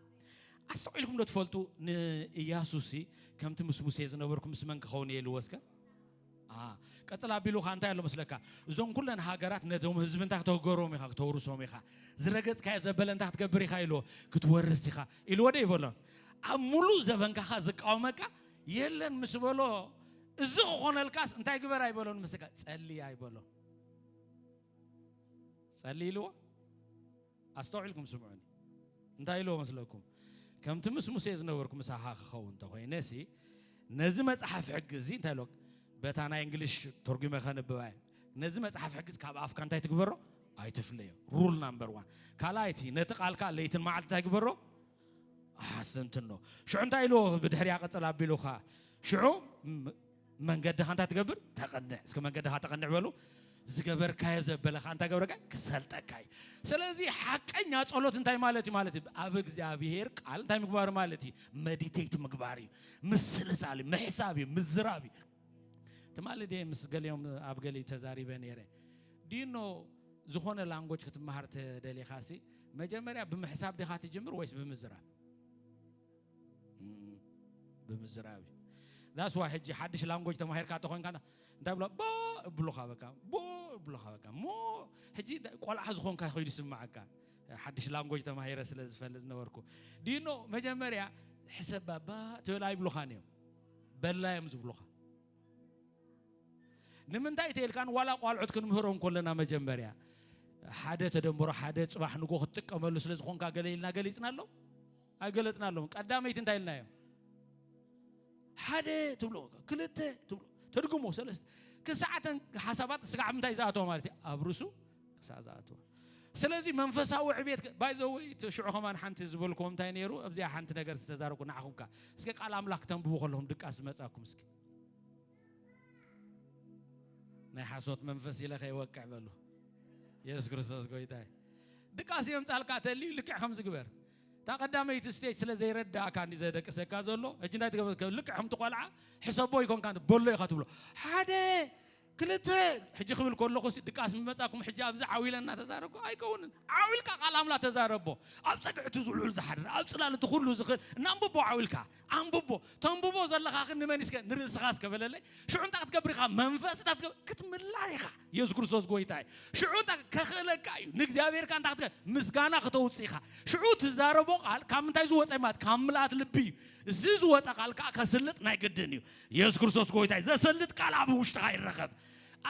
ኣስተውዒልኩም ዶ ትፈልጡ ንኢያሱሲ ከምቲ ምስ ሙሴ ዝነበርኩ ምስ መን ክኸውን እየ ኢልዎ እስከ ቀጽል ኣቢሉ ከኣ እንታይ ኣሎ መስለካ እዞም ኩለን ሃገራት ነቶም ህዝቢ እንታይ ክተገሮም ኢኻ ክተውርሶም ኢኻ ዝረገጽካዮ ዘበለ እንታይ ክትገብር ኢኻ ኢልዎ ክትወርስ ኢኻ ኢልዎ ደ ይበሎን ኣብ ሙሉእ ዘበንካኻ ዝቃወመካ የለን ምስ በሎ እዚ ክኾነልካስ እንታይ ግበር ኣይበሎን ምስካ ጸልይ ኣይበሎ ጸልይ ኢልዎ ኣስተውዒልኩም ስምዑኒ። እንታይ ኢልዎ መስለኩም? ከምቲ ምስ ሙሴ ዝነበርኩ ምሳኻ ክኸውን እንተ ኾይነሲ፣ ነዚ መጽሓፍ ሕጊ እዚ እንታይ ኢልዎ በታ ናይ እንግሊሽ ተርጒመ ከንብባ እየ። ነዚ መጽሓፍ ሕጊ ካብ ኣፍካ እንታይ ትግበሮ? ኣይትፍለዮ። ሩል ናምበር ዋን። ካልኣይቲ ነቲ ቃልካ ለይትን መዓልቲ እንታይ ግበሮ? ኣስተንትኖ። ሽዑ እንታይ ኢልዎ ብድሕሪያ ቅጽል ኣቢሉካ ሽዑ መንገድኻ እንታይ ትገብር ተቐንዕ እስከ መንገድኻ ተቐንዕ በሉ ዝገበርካዮ ዘበለኻ እንታይ ገብረካ ክሰልጠካ እዩ ስለዚ ሓቀኛ ጸሎት እንታይ ማለት እዩ ማለት እዩ ኣብ እግዚኣብሄር ቃል እንታይ ምግባር ማለት እዩ መዲቴት ምግባር እዩ ምስልሳል ምሕሳብ እዩ ምዝራብ እዩ ትማሊ ደ ምስ ገሊኦም ኣብ ገሊ ተዛሪበ ነይረ ዲኖ ዝኾነ ላንጎጅ ክትመሃር ተደሊኻ ሲ መጀመርያ ብምሕሳብ ዲኻ ትጅምር ወይስ ብምዝራብ ብምዝራብ እዩ ዛስ ዋይ ሕጂ ሓድሽ ላንጎጅ ተማሂርካ ተኾንካ እንታይ ብሎ ቦ እብሉኻ በቃ ቦ እብሉኻ በቃ ሞ ሕጂ ቆልዓ ዝኾንካ ኮይኑ ይስማዓካ ሓድሽ ላንጎጅ ተማሂረ ስለ ዝፈልጥ ዝነበርኩ ዲኖ መጀመርያ ሕሰብ ባባ ትብል ኣይብሉኻን እዮም በላ እዮም ዝብሉኻ ንምንታይ ተልካን ዋላ ቋልዑት ክንምህሮም ኮለና መጀመርያ ሓደ ተደምሮ ሓደ ፅባሕ ንጎ ክትጥቀመሉ ስለ ዝኾንካ ገለ ኢልና ገሊፅና ኣሎ ኣይገለጽናሎምን። ቀዳመይቲ እንታይ ኢልናዮ? ሓደ ትብሎ፣ ክልተ ትብሎ፣ ተድግሞ ሰለስተ ክሳዕተን ሓሳባት ስጋዕ ምንታይ ዝኣተወ ማለት እዩ ኣብ ርሱ ክሳዕ ዝኣተወ ስለዚ መንፈሳዊ ዕቤት ባይዘወ ሽዑ ከማን ሓንቲ ዝበልክዎ እንታይ ነይሩ ኣብዚኣ ሓንቲ ነገር ዝተዛረብኩ ንዓኹምካ እስኪ ቃል ኣምላኽ ተንብቡ ከለኹም ድቃስ ዝመፃኩም እስኪ ናይ ሓሶት መንፈስ ኢለ ከይወቅዕ በሉ የሱስ ክርስቶስ ጎይታ ድቃስ እዮም ጻልካ ተልዩ ልክዕ ከምዝግበር እታ ቀዳመይቲ ስቴጅ ስለ ዘይረዳእካ እንዲ ዘደቅሰካ ዘሎ ሕጂ እንታይ ትገብር ልክዕ ከምቲ ቆልዓ ሕሰቦ ይኮንካ በሎ ኢካ ትብሎ ሓደ ክልተ ሕጂ ክብል ከለኹ ድቃስ ምመጻኩም ሕጂ ኣብዚ ዓው ኢለ እናተዛረብኩ ኣይከውንን ዓው ኢልካ ቃል ኣምላኽ ተዛረቦ ኣብ ጸግዕቲ ዝውዕል ዝሓድር ኣብ ጽላል እቲ ኩሉ ዝኽእል እናንብቦ ዓው ኢልካ ኣንብቦ ተንብቦ ዘለኻ ግን ንመን እስከ ንርእስኻ እስከ በለለይ ሽዑ እንታይ ክትገብር ኢኻ መንፈስ እታ ክትገብር ክትምላእ ኢኻ የሱስ ክርስቶስ ጎይታ እዩ ሽዑ እንታ ከኽእለካ እዩ ንእግዚኣብሔርካ እንታይ ክትገ ምስጋና ክተውፅእ ኢኻ ሽዑ ትዛረቦ ቃል ካብ ምንታይ ዝወፀ እዩ ማለት ካብ ምልኣት ልቢ እዩ እዚ ዝወፀ ቃል ከዓ ከስልጥ ናይ ግድን እዩ የሱስ ክርስቶስ ጎይታ እዩ ዘሰልጥ ቃል ኣብ ውሽጥኻ ይረኸብ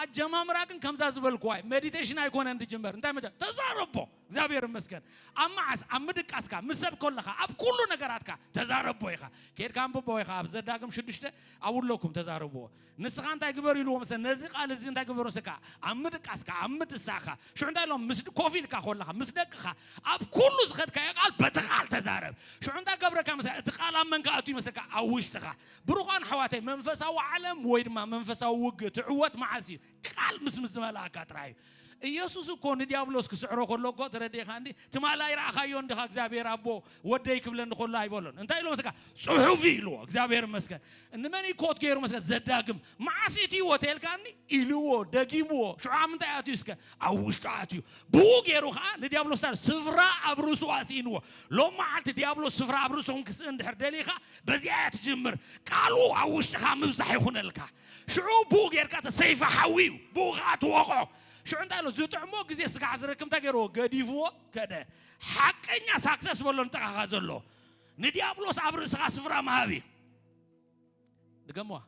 ኣጀማምራ ግን ከምዛ ዝበልኩዋ እዩ ሜዲቴሽን ኣይኮነን ዝጅመር እንታይ መጀ ተዛረቦ እግዚኣብሔር ይመስገን ኣብ መዓስ ኣብ ምድቃስካ ምስ ሰብ ኮለኻ ኣብ ኩሉ ነገራትካ ተዛረቦ ኢኻ ኬድካ ኣንብቦ ኢኻ ኣብ ዘዳግም ሽዱሽተ ኣብኡ ኣለኩም ተዛረብዎ ንስኻ እንታይ ግበር ኢልዎም ሰ ነዚ ቃል እዚ እንታይ ግበሮ ሰ ከዓ ኣብ ምድቃስካ ኣብ ምትሳእካ ሽዑ እንታይ ኢሎም ምስ ኮፍ ኢልካ ኮለኻ ምስ ደቅኻ ኣብ ኩሉ ዝኸድካዮ ቃል በቲ ቃል ተዛረብ ሽዑ እንታይ ገብረካ መሰ እቲ ቃል ኣብ መንካ ኣቱ ይመስለካ ኣብ ውሽጥኻ ብሩኻን ኣሕዋተይ መንፈሳዊ ዓለም ወይ ድማ መንፈሳዊ ውግእ ትዕወት መዓስ እዩ ቃል ምስ ምስ ዝመልኣካ ጥራይ እዩ ኢየሱስ እኮ ንዲያብሎስ ክስዕሮ ከሎ እኮ ተረዲኻ እንዲ ትማል ኣይረኣኻዮ እንዲኻ እግዚኣብሔር ኣቦ ወደይ ክብለኒ ከሎ ኣይበሎን እንታይ ኢሎ መስካ ፅሑፍ እዩ ኢልዎ እግዚኣብሔር መስገን እንመን ኮት ገይሩ መስከ ዘዳግም መዓስ እቲ ህይወት የልካኒ ኢልዎ ደጊምዎ ሽዑ ኣብ ምንታይ ኣትዩ እስከ ኣብ ውሽጡ ኣትዩ ብኡ ገይሩ ከዓ ንዲያብሎስ ታ ስፍራ ኣብ ርእሱ ኣስኢንዎ ሎም መዓልቲ ዲያብሎስ ስፍራ ኣብ ርእሱኹም ክስእን ድሕር ደሊኻ በዚኣ እያ ትጅምር ቃሉ ኣብ ውሽጥኻ ምብዛሕ ይኹነልካ ሽዑ ብኡ ጌርካ እቲ ሰይፊ ሓዊ እዩ፣ ብኡ ኸኣ ትወቕዖ። ሽዑ እንታይ ኢሉ፣ ዝጥዕሞ ግዜ ስጋዕ ዝረክብ እንታይ ገይርዎ፣ ገዲፍዎ ከደ። ሓቀኛ ሳክሰስ በሎ ንጥቓኻ ዘሎ፣ ንድያብሎስ ኣብ ርእስኻ ስፍራ ምሃብ እዩ። ድገምዋ፣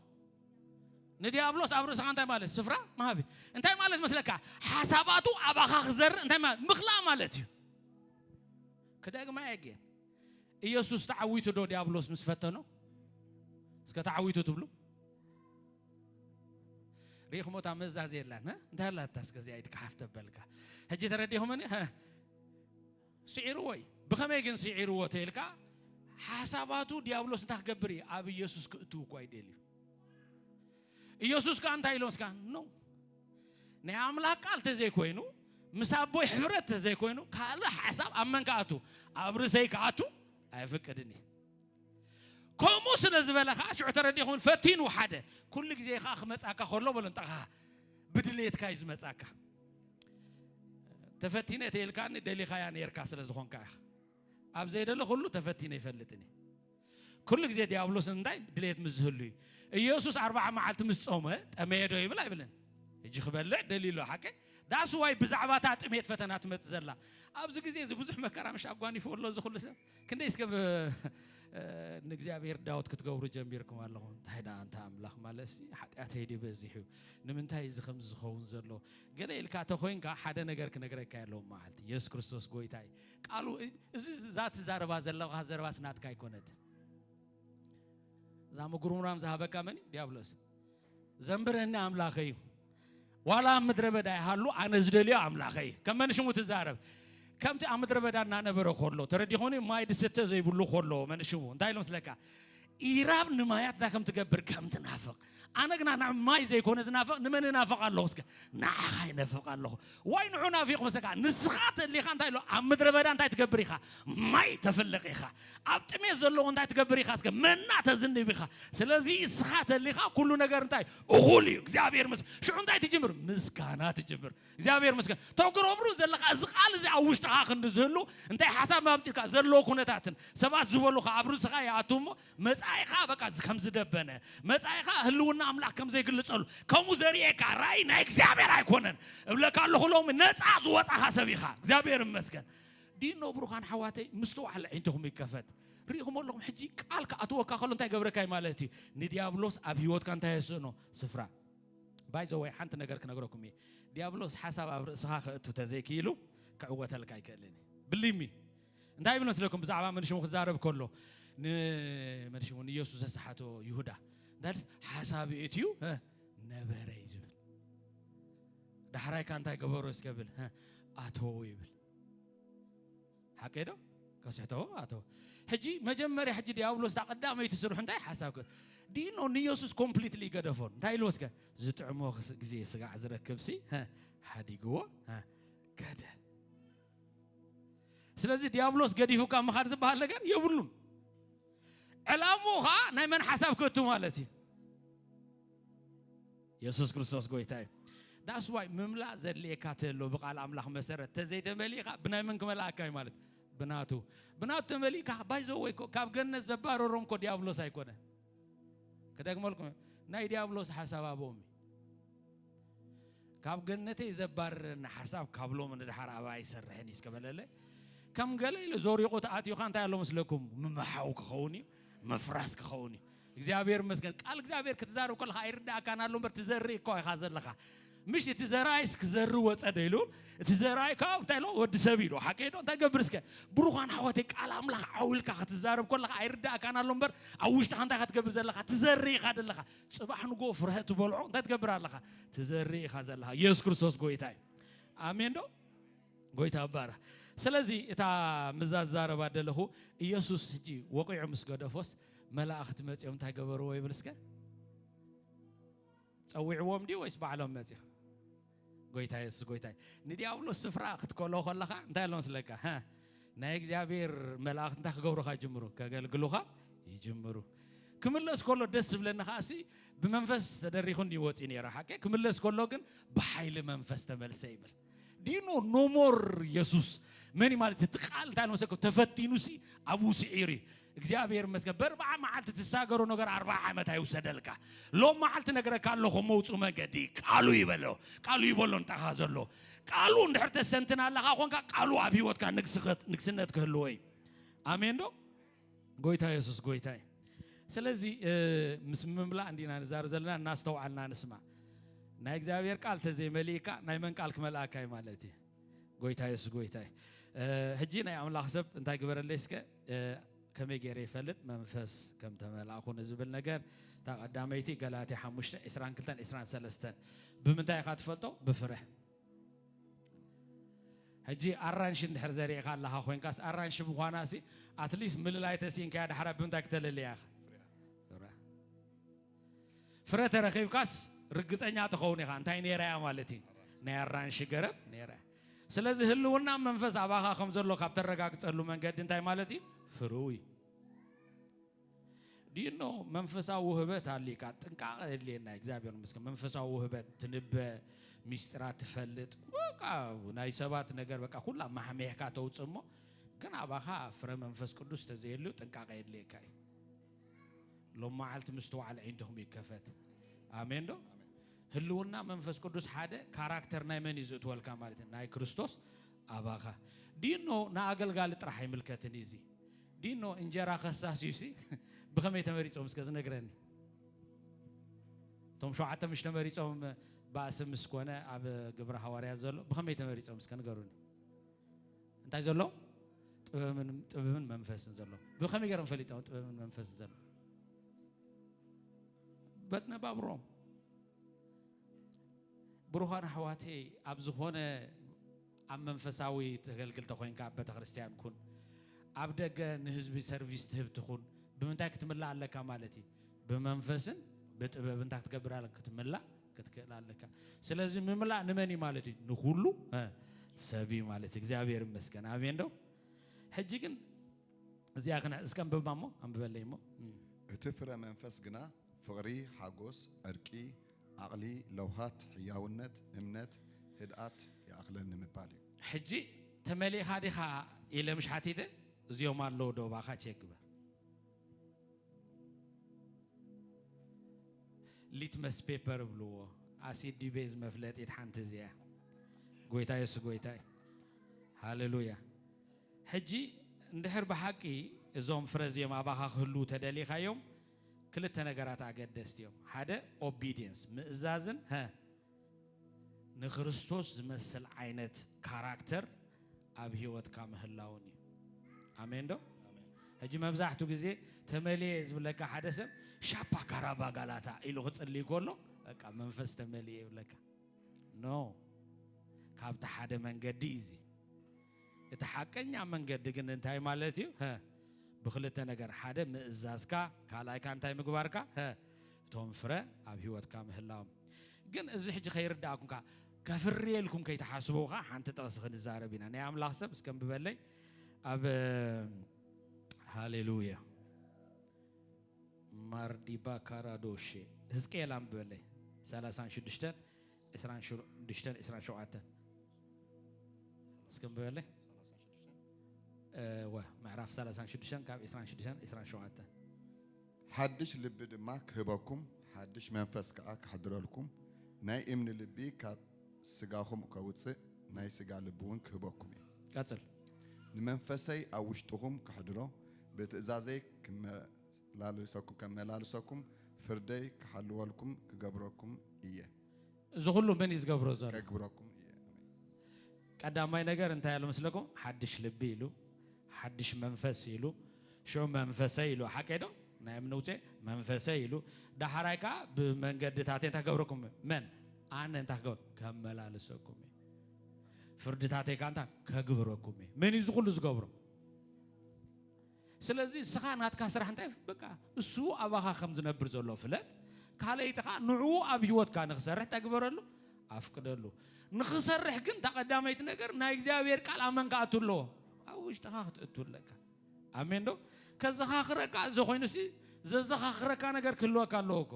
ንድያብሎስ ኣብ ርእስኻ እንታይ ማለት ስፍራ ምሃብ እዩ። እንታይ ማለት መስለካ፣ ሓሳባቱ ኣባኻ ክዘርእ እንታይ ምኽላእ ማለት እዩ። ክደግማ እየ ግን ኢየሱስ ተዓዊቱ ዶ ዲያብሎስ ምስ ፈተኖ? እስከ ተዓዊቱ ትብሉ ሪኢኹሞ እታ መዛዝ የላን እንታይ ኣላታ እስከ እዚኣ ኢድካ ሓፍ ተበልካ ሕጂ ተረዲኹምኒ ስዒርዎ እዩ ብኸመይ ግን ስዒርዎ ተይልካ ሓሳባቱ ዲያብሎስ እንታይ ክገብር እዩ ኣብ ኢየሱስ ክእትው እኳ ይደልዩ ኢየሱስ ከኣ እንታይ ኢሎም ስካ ኖ ናይ ኣምላኽ ቃል ተዘይኮይኑ ምስ ኣቦይ ሕብረት ተዘይኮይኑ ካልእ ሓሳብ ኣብ መን ክኣቱ ኣብ ርእሰይ ክኣቱ ኣይፍቅድን እዩ ከምኡ ስለ ዝበለ ከዓ ሽዑ ተረዲኹን ፈቲኑ ሓደ ኩሉ ግዜ ከዓ ክመፃካ ከሎ በሎ እንጠኻ ብድሌትካ እዩ ዝመፃካ ተፈቲነ ተይልካኒ ደሊኻያ ነርካ ስለ ዝኾንካ ኢኻ ኣብ ዘይደለ ኩሉ ተፈቲነ ይፈልጥኒ ኩሉ ግዜ ዲያብሎስ እንታይ ድሌት ምስ ዝህሉ እዩ ኢየሱስ ኣርባዓ መዓልቲ ምስ ጾመ ጠመየ ዶ ይብል ኣይብልን እጂ ክበልዕ ደልዩ ኣሎ ሓቂ ዳስ ዋይ ብዛዕባ እታ ጥሜት ፈተና ትመፅ ዘላ ኣብዚ ግዜ እዚ ብዙሕ መከራ ምሽ ኣጓኒፉ ኣሎ እዚ ኩሉ ሰብ ክንደይ እስከ ንእግዚኣብሔር ዳውት ክትገብሩ ጀሚርኩም ኣለኹም እንታይ ደኣ እንተ ኣምላኽ ማለት ሓጢኣተይ ድዩ በዚሑ ንምንታይ እዚ ከምዚ ዝኸውን ዘሎ ገለ ኢልካ ተኮይንካ ሓደ ነገር ክነግረካ ኣለዎም መዓልቲ የሱስ ክርስቶስ ጎይታይ ቃሉ እዚ እዛ ትዛረባ ዘለኻ ዘረባስ ናትካ ኣይኮነትን። እዛ ምጉርምራም ዝሃበካ መን እዩ? ዲያብሎስ። ዘንብረኒ ኣምላኸ እዩ፣ ዋላ ኣብ ምድረ በዳ ይሃሉ ኣነ ዝደልዮ ኣምላኸ እዩ። ከም መን ሽሙ ትዛረብ? ከምቲ ኣብ ምድረ በዳ እናነበረ ከሎ ተረዲኾኒ ማይ ድስተ ዘይብሉ ከሎ መን ሽሙ እንታይ ኢሎም ስለካ ኢራብ ንማያት እንታይ ከም ትገብር ከም ትናፍቕ ኣነ ግና ናብ ማይ ዘይኮነ ዝናፍቕ ንመን እናፍቕ ኣለኹ እስከ ንዓኻ ይነፍቕ ኣለኹ ወይ ንዑ ናፊቕ መሰካ ንስኻ ተሊኻ እንታይ ኣሎ ኣብ ምድረ በዳ እንታይ ትገብር ኢኻ ማይ ተፍልቕ ኢኻ ኣብ ጥሜት ዘለዎ እንታይ ትገብር ኢኻ እስከ መና ተዝንብ ኢኻ ስለዚ እስኻ ተሊኻ ኩሉ ነገር እንታይ እኹል እዩ እግዚኣብሔር ምስ ሽዑ እንታይ ትጅምር ምስጋና ትጅምር እግዚኣብሔር ይመስገን ተግረብሩ ዘለካ እዚ ቃል እዚ ኣብ ውሽጥካ ክንዲ ዝህሉ እንታይ ሓሳብ ኣብፅልካ ዘለዎ ኩነታትን ሰባት ዝበሉካ ኣብ ርእስካ ይኣቱ እሞ መፃኢካ በቃ ከም ዝደበነ መፃኢካ ህልውና ኣምላክ ከም ዘይግልፀሉ ከምኡ ዘርእየካ ራእይ ናይ እግዚኣብሔር ኣይኮነን እብለካ ኣለኩ ሎሚ ነፃ ዝወፃካ ሰብ ኢካ እግዚኣብሔር ይመስገን ዲኖ ብሩካን ሓዋተይ ምስተዋዕለ ዓይንትኹም ይከፈት ርኢኹም ኣለኹም ሕጂ ቃል ክኣትወካ ከሎ እንታይ ገብረካይ ማለት እዩ ንዲያብሎስ ኣብ ሂወትካ እንታይ የስእኖ ስፍራ ባይ ዘ ወይ ሓንቲ ነገር ክነግረኩም እየ ዲያብሎስ ሓሳብ ኣብ ርእስኻ ከእቱ ተዘይክኢሉ ክዕወተልካ ኣይክእልን እዩ ብሊሚ እንታይ ይብል መስለኩም ብዛዕባ መንሽሙ ክዛረብ ከሎ ንመንሽሙ ንኢየሱስ ዘሰሓቶ ይሁዳ እንታይ ሓሳብ እትዩ ነበረ እዩ ዝብል ዳሕራይካ እንታይ ገበሮ እስከብል ኣተዎ ይብል ሓቀይ ዶ ከስሕቶ ኣቶ ሕጂ መጀመርያ ሕጂ ዲያብሎስ እታ ቀዳመይቲ ስርሑ እንታይ ሓሳብ ዲኖ ንኢየሱስ ኮምፕሊትሊ ገደፎ እንታይ ኢልዎ እስከ ዝጥዕሞ ግዜ ስጋዕ ዝረክብሲ ሓዲግዎ ከደ ስለዚ ዲያብሎስ ገዲፉካ ምኻድ ዝበሃል ነገር የብሉን ዕላምኡ ከዓ ናይ መን ሓሳብ ከቱ ማለት እዩ የሱስ ክርስቶስ ጎይታ እዩ ዳስ ዋይ ምምላእ ዘድልየካ ተሎ ብቃል ኣምላኽ መሰረት ተዘይተመሊእካ ብናይ መን ክመልኣካ እዩ ማለት ብናቱ ብናቱ ተመሊእካ ባይዞ ወይ ካብ ገነት ዘባረሮም ኮ ዲያብሎስ ኣይኮነ ክደግመልኩም ናይ ዲያብሎስ ሓሳብ ኣቦም እዩ ካብ ገነተይ ዘባርረኒ ሓሳብ ካብ ሎሚ ንድሓር ኣባ ኣይሰርሕን እዩ እስከበለለ ከም ገለ ኢሉ ዞሪቑ ተኣትዩኻ እንታይ ኣሎ መስለኩም ምምሓው ክኸውን እዩ ምፍራስ ክኸውን እዩ እግዚኣብሔር ይመስገን ቃል እግዚኣብሔር ክትዛርብ ከለካ ኣይርዳእካን ኣሎ በር ትዘርኢ እኳ ኢኻ ዘለኻ ምሽ እቲ ዘራይስ ክዘሪ ወፀ ዶ ኢሉ እቲ ዘራይ ከዓ እንታይ ሎ ወዲ ሰብ ኢሉ ሓቂ ዶ እንታይ ገብር እስከ ብሩኳን ሓወተይ ቃል ኣምላኽ ዓውልካ ክትዛረብ ከለካ ኣይርዳእካን ኣሎ እምበር ኣብ ውሽጥካ እንታይ ክትገብር ዘለካ ትዘሪ ኢኻ ዘለካ ፅባሕ ንጎ ፍረ ትበልዖ እንታይ ትገብር ኣለካ ትዘሪ ኢኻ ዘለካ ኢየሱስ ክርስቶስ ጎይታ እዩ ኣሜን ዶ ጎይታ ባራ ስለዚ እታ ምዛ ዛረባ ደለኹ ኢየሱስ ሕጂ ወቂዑ ምስ ገደፎስ መላእኽቲ መጺኦም እንታይ ገበርዎ ይብል እስከ ጸዊዕዎም ድዩ ወይስ ባዕሎም መጺኦም ጎይታ የሱስ ጎይታ ንዲያብሎስ ስፍራ ክትከሎ ከለኻ እንታይ ኣሎ ስለካ ናይ እግዚኣብሔር መላእኽቲ እንታይ ክገብሩኻ ይጅምሩ ከገልግሉኻ ይጅምሩ ክምለስ ከሎ ደስ ዝብለኒ ከዓ ሲ ብመንፈስ ተደሪኹ እንዲወፅኡ ነይረ ሓቂ ክምለስ ከሎ ግን ብሓይሊ መንፈስ ተመልሰ ይብል ዲኖ ኖሞር የሱስ መን እዩ ማለት እቲ ቃል እንታይ ንመሰልኩም ተፈቲኑ ሲ ኣብኡ ስዒሩ እዩ እግዚኣብሔር ይመስገን በርብዓ መዓልቲ ትሳገሮ ነገር ኣርባ ዓመት ኣይውሰደልካ ሎም መዓልቲ ነገረካ ኣለኹ መውፁ መገዲ ቃሉ ይበሎ ቃሉ ይበሎ እንታኻ ዘሎ ቃሉ እንድሕር ተስተንትን ኣለኻ ኮንካ ቃሉ ኣብ ሂወትካ ንግስነት ክህልዎ እዩ ኣሜን ዶ ጎይታ የሱስ ጎይታ እዩ ስለዚ ምስ ምምላእ እንዲና ንዛረብ ዘለና እናስተውዓልና ንስማ ናይ እግዚኣብሔር ቃል ተዘይመሊእካ ናይ መን ቃል ክመልኣካ እዩ ማለት እዩ ጎይታ የሱስ ጎይታ እዩ ሕጂ ናይ ኣምላኽ ሰብ እንታይ ግበረለይ እስከ ከመይ ገይረ ይፈልጥ መንፈስ ከም ተመላእኹ ንዝብል ነገር እታ ቀዳመይቲ ገላትያ 5 22 23 ብምንታይ ኢኻ ትፈልጦ ብፍረ ሕጂ ኣራንሺ እንድሕር ዘሪእኻ ኣለኻ ኮይንካስ ኣራንሺ ምዃናሲ ኣትሊስት ምልላይ ተሲኢንካያ ዳሕራ ብምንታይ ክተለልያ ኢኻ ፍረ ተረኺብካስ ርግፀኛ ትኸውን ኢኻ እንታይ ነይራያ ማለት እዩ ናይ ኣራንሺ ገረብ ነይራ ስለዚ ህልውና መንፈስ ኣባኻ ከም ዘሎ ካብ ተረጋግፀሉ መንገዲ እንታይ ማለት እዩ ፍርው እዩ ዲኖ መንፈሳዊ ውህበት ኣልካ ጥንቃቐ የድልየና እግዚኣብሔር መስገን መንፈሳዊ ውህበት ትንበ ሚስጢራት ትፈልጥ በቃ ናይ ሰባት ነገር በቃ ኩላ ማሕሚሕካ ተውፅ እሞ ግን ኣባኻ ፍረ መንፈስ ቅዱስ ተዘየሉ ጥንቃቐ የድልየካ እዩ ሎም መዓልቲ ምስትውዓል ዒንትኹም ይከፈት ኣሜን ዶ ህልውና መንፈስ ቅዱስ ሓደ ካራክተር ናይ መን እዩ ዝእትወልካ ማለት እዩ ናይ ክርስቶስ ኣባኻ ዲኖ ንኣገልጋሊ ጥራሕ ኣይምልከትን እዩ ዲኖ እንጀራ ከሳስዩሲ ብኸመይ ተመሪጾም እስከ ዝነግረኒ እቶም ሸውዓተ ምሽ ተመሪጾም ባእሲ ምስ ኮነ ኣብ ግብረ ሃዋርያ ዘሎ ብኸመይ ተመሪጾም እስከ ንገሩኒ እንታይ ዘሎ ጥበብን መንፈስን ዘሎ ብኸመይ ገይሮም ፈሊጦም ጥበብን መንፈስን ዘሎ በነባብሮም ብሩዃን ኣሕዋተይ ኣብ ዝኾነ ኣብ መንፈሳዊ ተገልግል ተኾይንካ ኣብ በተክርስትያን ኩን ኣብ ደገ ንህዝቢ ሰርቪስ ትህብ ትኹን ብምንታይ ክትምላእ ኣለካ ማለት እዩ ብመንፈስን ብጥበብ እንታይ ክትገብር ኣለካ ክትምላእ ክትክእል ኣለካ ስለዚ ምምላእ ንመን እዩ ማለት እዩ ንኩሉ ሰብ እዩ ማለት እግዚኣብሔር ይመስገን ኣሜን ዶ ሕጂ ግን እዚኣ ክነ እስከ ኣንብባ እሞ ኣንብበለይ እሞ እቲ ፍረ መንፈስ ግና ፍቕሪ ሓጎስ ዕርቂ ዓቕሊ፣ ለውሃት፣ ሕያውነት፣ እምነት፣ ህድኣት ይኣኽለኒ ምባል እዩ። ሕጂ ተመሊእኻ ዲኻ ኢለ ምሽ ሓቲተ እዚኦም ኣለዉ ዶ እባኻ ቼክ ግበር። ሊትመስ ፔፐር እብልዎ ኣሲድ ድዩ ቤዝ መፍለጢት ሓንቲ እዚ እያ። ጎይታ የሱስ ጎይታ እዩ። ሃሌሉያ። ሕጂ እንድሕር ብሓቂ እዞም ፍረ እዚኦም ኣባኻ ክህልዉ ተደሊኻዮም ክልተ ነገራት ኣገደስቲ እዮም ሓደ ኦቢድየንስ ምእዛዝን ሀ ንክርስቶስ ዝመስል ዓይነት ካራክተር ኣብ ሂወትካ ምህላውን እዩ ኣሜን ዶ ሕጂ መብዛሕቱ ግዜ ተመልየ ዝብለካ ሓደ ሰብ ሻፓ ካራባ ጋላታ ኢሉ ክጽልይ ከሎ በቃ መንፈስ ተመልየ ይብለካ ኖ ካብቲ ሓደ መንገዲ እዩ እቲ ሓቀኛ መንገዲ ግን እንታይ ማለት እዩ? ሀ ብክልተ ነገር ሓደ ምእዛዝካ ካልኣይ ከኣ እንታይ ምግባርካ? ሀ እቶም ፍረ ኣብ ህይወትካ ምህላዎም ግን እዚ ሕጂ ከይርዳእኩምካ ከፍርየልኩም ከይትሓስቡ ከኣ ሓንቲ ጥቕሲ ክንዛረብ ኢና ናይ ኣምላኽ ሰብ እስከ ንብበለይ ኣብ ሃሌሉያ ማርዲባ ካራዶሼ ህዝቅኤል ኣንብበለይ 36 ዕስራን ሽዱሽተን ዕስራን ሸውዓተን እስከ ንበበለ እወ ምዕራፍ ሰላሳን ሽዱሽተን ካብ ዕስራን ሽዱሽተን ዕስራን ሸውዓተን ሓድሽ ልቢ ድማ ክህበኩም ሓድሽ መንፈስ ከዓ ክሓድረልኩም ናይ እምኒ ልቢ ካብ ስጋኹም ከውፅእ ናይ ስጋ ልቢ እውን ክህበኩም እዩ ቀፅል ንመንፈሰይ ኣብ ውሽጥኹም ከሕድሮ ብትእዛዘይ ክመላልሰኩም ከመላልሰኩም ፍርደይ ክሓልወልኩም ክገብረኩም እየ። እዚ ኩሉ መን እዩ ዝገብሮ ዘሎ? ከግብረኩም እየ። ቀዳማይ ነገር እንታይ ኣሎ መስለኩም? ሓድሽ ልቢ ኢሉ ሓድሽ መንፈስ ኢሉ ሽዑ መንፈሰይ ኢሉ ሓቀይ ዶ ናይ እምኒ ውፅኤ መንፈሰይ ኢሉ ዳሕራይ ከዓ ብመንገድታት እንታይ ክገብረኩም እዩ? መን ኣነ እንታይ ክገብር ከመላልሰኩም እዩ። ፍርድታተይ ከዓ እንታይ ከግብረኩም እዩ። መን እዩ እዚ ኩሉ ዝገብሮ? ስለዚ እስኻ ናትካ ስራሕ እንታይ በቃ እሱ ኣባኻ ከም ዝነብር ዘሎ ፍለጥ ካለይቲ ከዓ ንዕኡ ኣብ ህይወትካ ንክሰርሕ እንታይ ግበረሉ ኣፍቅደሉ ንክሰርሕ ግን እታ ቀዳመይቲ ነገር ናይ እግዚኣብሔር ቃል ኣብ መንካ ኣቱ ኣለዎ ኣብ ውሽጥኻ ክትእቱ ኣለካ ኣሜን ዶ ከዘኻኽረካ እዚ ኮይኑ ሲ ዘዘኻኽረካ ነገር ክህልወካ ኣለዎ እኮ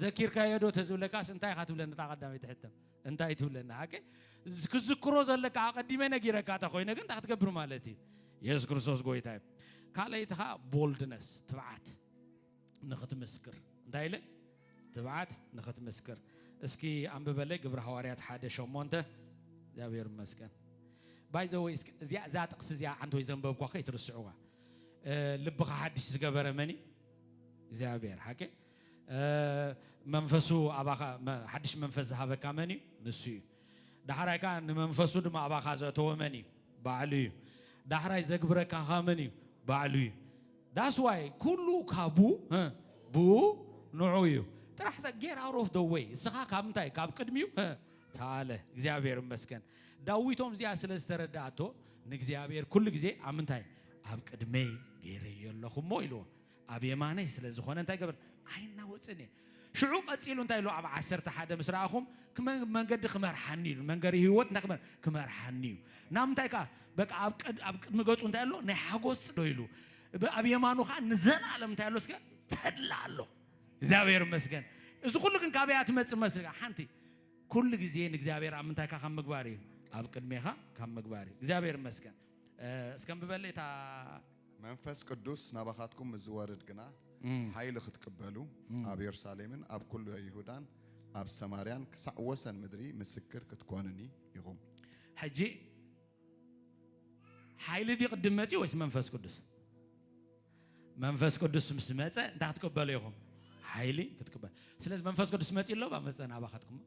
ዘኪርካዮ ዶ ተዝብለካስ እንታይ ኢኻ ትብለኒ እታ ቀዳመይቲ ሕቶ እንታይ ትብለና ኣከ ክዝክሮ ዘለካ ኣቐዲመ ነጊረካ እታ ኮይነ ግን እንታይ ክትገብር ማለት እዩ የሱስ ክርስቶስ ጎይታ እዩ ካልኣይቲ ከዓ ቦልድነስ ትብዓት ንኽትምስክር እንታይ ኢለ ትብዓት ንኽትምስክር እስኪ ኣንብበለይ ግብሪ ሃዋርያት ሓደ ሸሞንተ እግዚኣብሔር ይመስገን ባይ ዘወይ እዚኣ እዛ ጥቕሲ እዚኣ ዓንተ ወይ ዘንበብኳ ከይትርስዕዋ ልብኻ ሓድሽ ዝገበረ መን እዩ እግዚኣብሔር ሓቂ መንፈሱ ኣባኻ ሓድሽ መንፈስ ዝሃበካ መን እዩ? ንሱ እዩ። ዳሕራይ ከዓ ንመንፈሱ ድማ ኣባኻ ዘእተወ መን እዩ? ባዕሉ እዩ። ዳሕራይ ዘግብረካ ከዓ መን እዩ? ባዕሉ እዩ። ዳስ ዋይ ኩሉ ካቡ ብኡ ንዑ እዩ ጥራሕ ሰ ጌር ኣውት ኦፍ ደ ወይ እስኻ ካብ እንታይ ካብ ቅድሚኡ ተኣለ። እግዚኣብሔር ይመስገን ዳዊቶም እዚኣ ስለ ዝተረዳኣቶ ንእግዚኣብሔር ኩሉ ግዜ ኣብ ምንታይ ኣብ ቅድመይ ገይረዮ ኣለኹ እሞ ኢልዎ። ኣብ የማነይ ስለ ዝኾነ እንታይ ገበር ኣይናወጽን እየ ሽዑ ቀጺሉ እንታይ ኢሉ ኣብ ዓሰርተ ሓደ ምስ ረኣኹም መንገዲ ክመርሓኒ ኢሉ መንገዲ ህይወት እንታይ ክመር ክመርሓኒ እዩ ናብ ምንታይ ከዓ በቃ ኣብ ቅድሚ ገጹ እንታይ ኣሎ ናይ ሓጎስ ዶ ኢሉ ኣብ የማኑ ከዓ ንዘለኣለም እንታይ ኣሎ እስከ ተድላ ኣሎ እግዚኣብሔር ይመስገን እዚ ኩሉ ግን ካበይ እያ ትመፅእ መስል ሓንቲ ኩሉ ግዜ ንእግዚኣብሔር ኣብ ምንታይካ ካብ ምግባር እዩ ኣብ ቅድሜኻ ካብ ምግባር እዩ እግዚኣብሔር ይመስገን እስከ ምበለ እታ መንፈስ ቅዱስ ናባኻትኩም ምስ ዝወርድ ግና ሓይሊ ኽትቅበሉ፣ ኣብ የሩሳሌምን ኣብ ኵሉ ይሁዳን ኣብ ሰማርያን ክሳዕ ወሰን ምድሪ ምስክር ክትኰኑኒ ኢኹም። ሕጂ ሓይሊ ድዩ ቅድም መጺኡ ወይስ መንፈስ ቅዱስ? መንፈስ ቅዱስ ምስ መጸ እንታይ ክትቅበሉ ኢኹም? ሓይሊ ክትቅበሉ። ስለዚ መንፈስ ቅዱስ መጺኡ ኣሎ ባ መጸ ናባኻትኩም?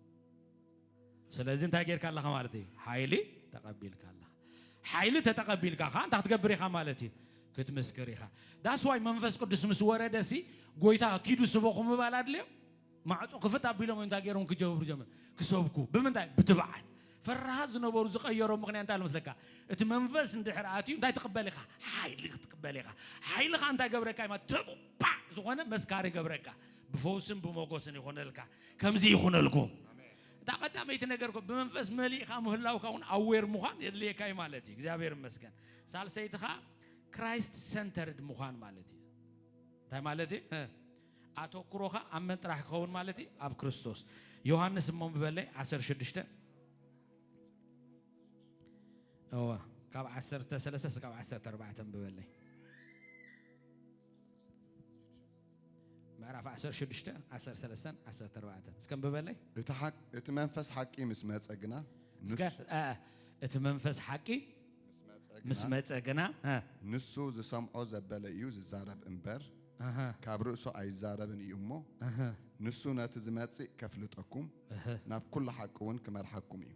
ስለዚ እንታይ ጌርካ ኣለኻ ማለት እዩ? ሓይሊ ተቐቢልካ ኣለኻ። ሓይሊ ተተቐቢልካ ከዓ እንታይ ክትገብር ኢኻ ማለት እዩ? ክትምስክር ኢኻ። ዳስዋይ መንፈስ ቅዱስ ምስ ወረደ ሲ ጎይታ ኪዱ ስበኹ ምባል ኣድልዮ ማዕፆ ክፍት ኣቢሎም እንታይ ገይሮም ክጀብሩ ጀመር ክሰብኩ ብምንታይ ብትብዓት ፈራሃት ዝነበሩ ዝቀየሮ ምክንያት እንታይ መስለካ እቲ መንፈስ እንድሕር ኣትዩ እንታይ ትቕበል ኢኻ ሓይሊ ክትቅበል ኢኻ ሓይልኻ እንታይ ገብረካ ኢማ ተቡባዕ ዝኾነ መስካሪ ገብረካ ብፈውስን ብሞጎስን ይኹነልካ ከምዚ ይኹነልኩም እታ ቀዳመይቲ ነገር ኮ ብመንፈስ መሊእኻ ምህላውካ እውን ኣዌር ምዃን የድልየካ እዩ ማለት እዩ እግዚኣብሔር ይመስገን ሳልሰይትኻ ክራይስት ሰንተርድ ምዃን ማለት እዩ እንታይ ማለት እዩ ኣተኩሮኻ ኣብ መን ጥራሕ ክኸውን ማለት እዩ ኣብ ክርስቶስ ዮሃንስ እሞ ብበለይ 16 እወ ካብ 13 ስጋብ 14 ብበለይ ምዕራፍ ዓሰርተ ሽዱሽተ ዓሰርተ ሰለስተን ዓሰርተ ኣርባዕተን እስከ ንብበለይ እቲ ሓቅ እቲ መንፈስ ሓቂ ምስ መጸ ግና እስከ ንሱ- አ፣ አ፣ እቲ መንፈስ ሓቂ ምስ መጸ ምስ ግና መጸ ግና አ፣ ንሱ ዝሰምዖ ዘበለ እዩ ዝዛረብ እምበር ኣሃ፣ ካብ ርእሱ ኣይዛረብን እዩ እሞ ኣሃ፣ ንሱ ነቲ ዝመጽእ ከፍልጠኩም እህ። ናብ ኩሉ ሓቂ እውን ክመርሓኩም እዩ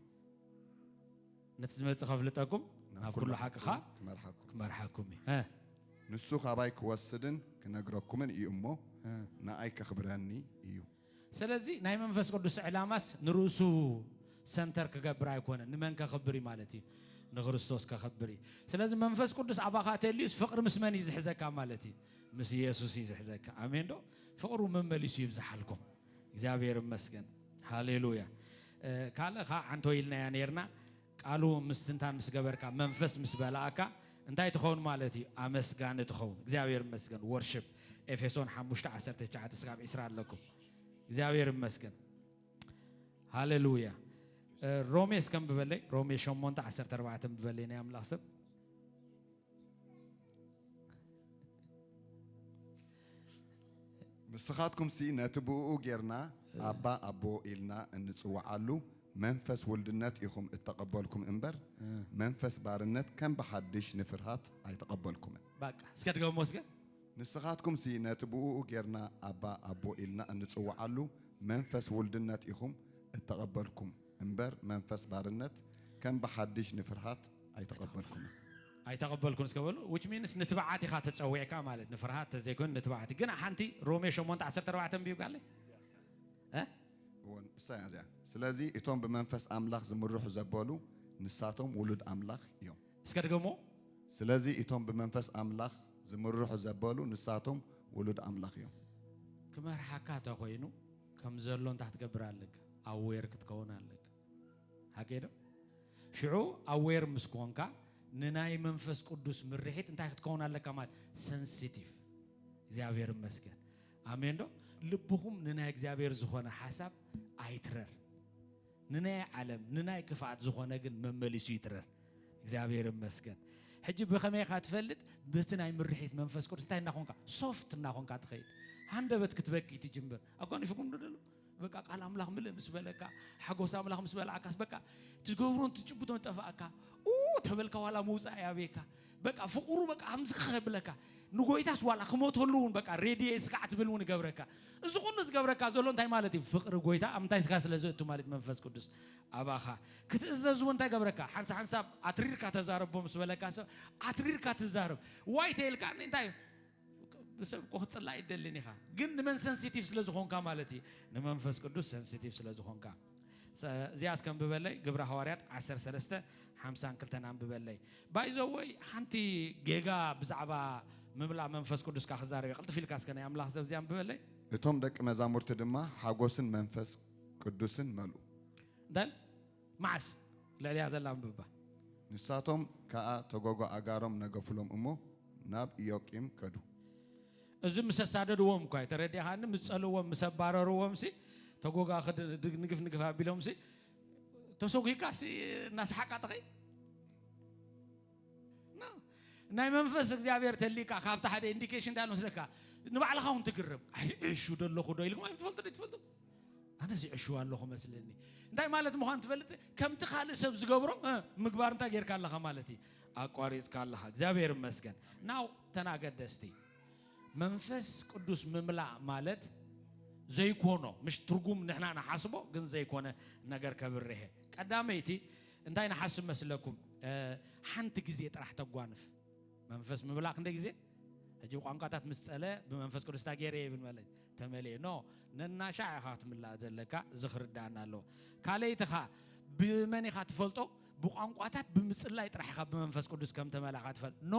ነቲ ዝመጽእ ከፍልጠኩም ናብ ኩሉ ሓቅኻ ክመርሓኩም እዩ። ንሱ ካባይ ክወስድን ክነግረኩምን እዩ እሞ ንኣይ ከኽብረኒ እዩ። ስለዚ ናይ መንፈስ ቅዱስ ዕላማስ ንርእሱ ሰንተር ክገብር ኣይኮነን። ንመን ከኽብር እዩ ማለት እዩ? ንክርስቶስ ከኽብር እዩ። ስለዚ መንፈስ ቅዱስ ኣባኻ ተልዩስ ፍቕሪ ምስ መን እዩ ዝሕዘካ ማለት እዩ? ምስ ኢየሱስ እዩ ዝሕዘካ። ኣሜን ዶ? ፍቕሩ መመሊሱ ይብዝሓልኩም። እግዚኣብሔር ይመስገን ሃሌሉያ ካልእ ከ ዓንቶ ኢልናያ ነርና ቃሉ ምስትንታን ምስ ገበርካ መንፈስ ምስ በላእካ እንታይ ትኸውን ማለት እዩ ኣመስጋኒ ትኸውን እግዚኣብሔር ይመስገን ወርሽፕ ኤፌሶን 5 19 ስጋብ 20 ኣለኩም እግዚኣብሔር ይመስገን ሃሌሉያ ሮሜ እስከም ብበለይ ሮሜ 8 14 ብበለይ ናይ ኣምላኽ ሰብ ንስኻትኩም ሲ ነቲ ብእኡ ጌርና ኣባ ኣቦ ኢልና እንጽውዓሉ መንፈስ ውልድነት ኢኹም እተቐበልኩም እምበር መንፈስ ባርነት ከም ብሓድሽ ንፍርሃት ኣይተቐበልኩምን። ባቃ እስከ ድገሞ እስከ ንስኻትኩም ሲ ነቲ ብእኡ ጌርና ኣባ ኣቦ ኢልና እንጽውዓሉ መንፈስ ውልድነት ኢኹም እተቐበልኩም እምበር መንፈስ ባርነት ከም ብሓድሽ ንፍርሃት ኣይተቐበልኩምን። ኣይተቐበልኩን እስከ በሉ። which means ንትብዓት ኢኻ ተጸዊዕካ ማለት ንፍርሃት ተዘይኮይኑ ንትብዓት ግን ሓንቲ ሮሜ ሸሞንተ ዓሰርተ ኣርባዕተ ኣንብብ ጋለይ እ እወ ንሳ እያ እዚኣ። ስለዚ እቶም ብመንፈስ ኣምላኽ ዝምርሑ ዘበሉ ንሳቶም ውሉድ ኣምላኽ እዮም። እስከ ድገሞ ስለዚ እቶም ብመንፈስ ኣምላኽ ዝምርሑ ዘበሉ ንሳቶም ውሉድ ኣምላኽ እዮም። ክመርሓካ ተኮይኑ ከም ዘሎ እንታይ ክትገብር ኣለካ? ኣዌር ክትከውን ኣለካ ሓቀይ ዶ ሽዑ ኣዌር ምስ ኮንካ ንናይ መንፈስ ቅዱስ ምርሒት እንታይ ክትከውን ኣለካ ማለት ሰንሲቲቭ እግዚኣብሔር ይመስገን ኣሜን ዶ ልብኹም ንናይ እግዚኣብሔር ዝኾነ ሓሳብ ኣይትረር ንናይ ዓለም ንናይ ክፍኣት ዝኾነ ግን መመሊሱ ይትረር እግዚኣብሔር ይመስገን ሕጂ ብኸመይ ኢኻ ትፈልጥ በቲ ናይ ምርሒት መንፈስ ቅዱስ እንታይ እናኾንካ ሶፍት እናኾንካ ትኸይድ ሃንደበት ክትበኪ ትጅምር ኣጓኒፍኩም ዶ ደሎ በቃ ቃል ኣምላኽ ምልእ ምስ በለካ ሓጎስ ኣምላኽ ምስ በላዕካስ በቃ ትገብሮን ትጭብቶን ጠፋእካ ተበልካ ዋላ ምውፃእ ያብየካ በቃ ፍቕሩ በቃ ከምዚ ከብለካ ንጎይታስ ዋላ ክሞተሉ እውን በቃ ሬድየ ስጋዕ ትብል እውን ይገብረካ እዚ ኩሉ ዝገብረካ ዘሎ እንታይ ማለት እዩ ፍቕሪ ጎይታ ኣብ ምንታይ ስጋ ስለ ዘእቱ ማለት መንፈስ ቅዱስ ኣባኻ ክትእዘዝ እውን እንታይ ገብረካ ሓንሳ ሓንሳብ ኣትሪርካ ተዛረቦ ምስ በለካ ሰብ ኣትሪርካ ትዛረብ ዋይ ተይልካ እንታይ እዩ ንሰብ እኮ ክትጽላ ኣይደልን ኢኻ፣ ግን ንመን ሰንሲቲቭ ስለ ዝኾንካ ማለት እዩ፣ ንመንፈስ ቅዱስ ሰንሲቲቭ ስለ ዝኾንካ። እዚኣ እስከ ኣንብበለይ፣ ግብረ ሃዋርያት 13 52 ኣንብበለይ። ባይዘወይ ሓንቲ ጌጋ ብዛዕባ ምምላ መንፈስ ቅዱስካ ክዛረብ ቅልጥፍ ኢልካ እስከ ናይ ኣምላኽ ሰብ እዚኣ ኣንብበለይ። እቶም ደቂ መዛሙርቲ ድማ ሓጎስን መንፈስ ቅዱስን መልኡ። እንታይ መዓስ? ልዕሊኣ ዘላ ኣንብባ። ንሳቶም ከኣ ተጎጎ ኣእጋሮም ነገፉሎም እሞ፣ ናብ ኢዮቂም ከዱ። እዚ ምስ ኣሳደድዎም እኳዩ፣ ተረዲእኻኒ? ምስ ጸልእዎም፣ ምስ ኣባረርዎምሲ፣ ተጎጎ ኣኽዲ ንግፍ ንግፍ ኣቢሎምሲ፣ ተሰጒግካሲ እናሰሓቅካ ትኸይድ? ናይ መንፈስ እግዚኣብሔር ተልይካ ካብቲ ሓደ ኢንዲኬሽን እንታይ ኣሎ መስለካ ንባዕልኻ እውን ትግረም። ኣይ ዕሹ ዶ ኣለኹ ዶ ኢልኩም ኣይትፈልጡን ኢትፈልጡ። ኣነ ዝዕሽው ኣለኹ መስለኒ እንታይ ማለት ምዃን ትፈልጥ ከምቲ ካልእ ሰብ ዝገብሮ ምግባር እንታይ ጌርካ ኣለኻ ማለት እዩ ኣቋሪፅካ ኣለኻ እግዚኣብሔር ይመስገን ናው ተናገደስቲ መንፈስ ቅዱስ ምምላእ ማለት ዘይኮኖ ምሽ ትርጉም ንሕና ንሓስቦ ግን ዘይኮነ ነገር ከብርሀ ቀዳመይቲ እንታይ ንሓስብ መስለኩም ሓንቲ ግዜ ጥራሕ ተጓንፍ መንፈስ ምምላእ ክንደይ ግዜ ሕጂ ቋንቋታት ምስ ፀለ ብመንፈስ ቅዱስ ታጌረ ይብል ማለት ተመልኤ ኖ ነናሻዕ ኢኻ ክትምላእ ዘለካ እዚ ክርዳኣና ኣለዎ ካልኣይትኻ ብመን ኢኻ ትፈልጦ ብቋንቋታት ብምጽላይ ጥራሕ ኢኻ ብመንፈስ ቅዱስ ከም ተመላእካ ትፈልጥ ኖ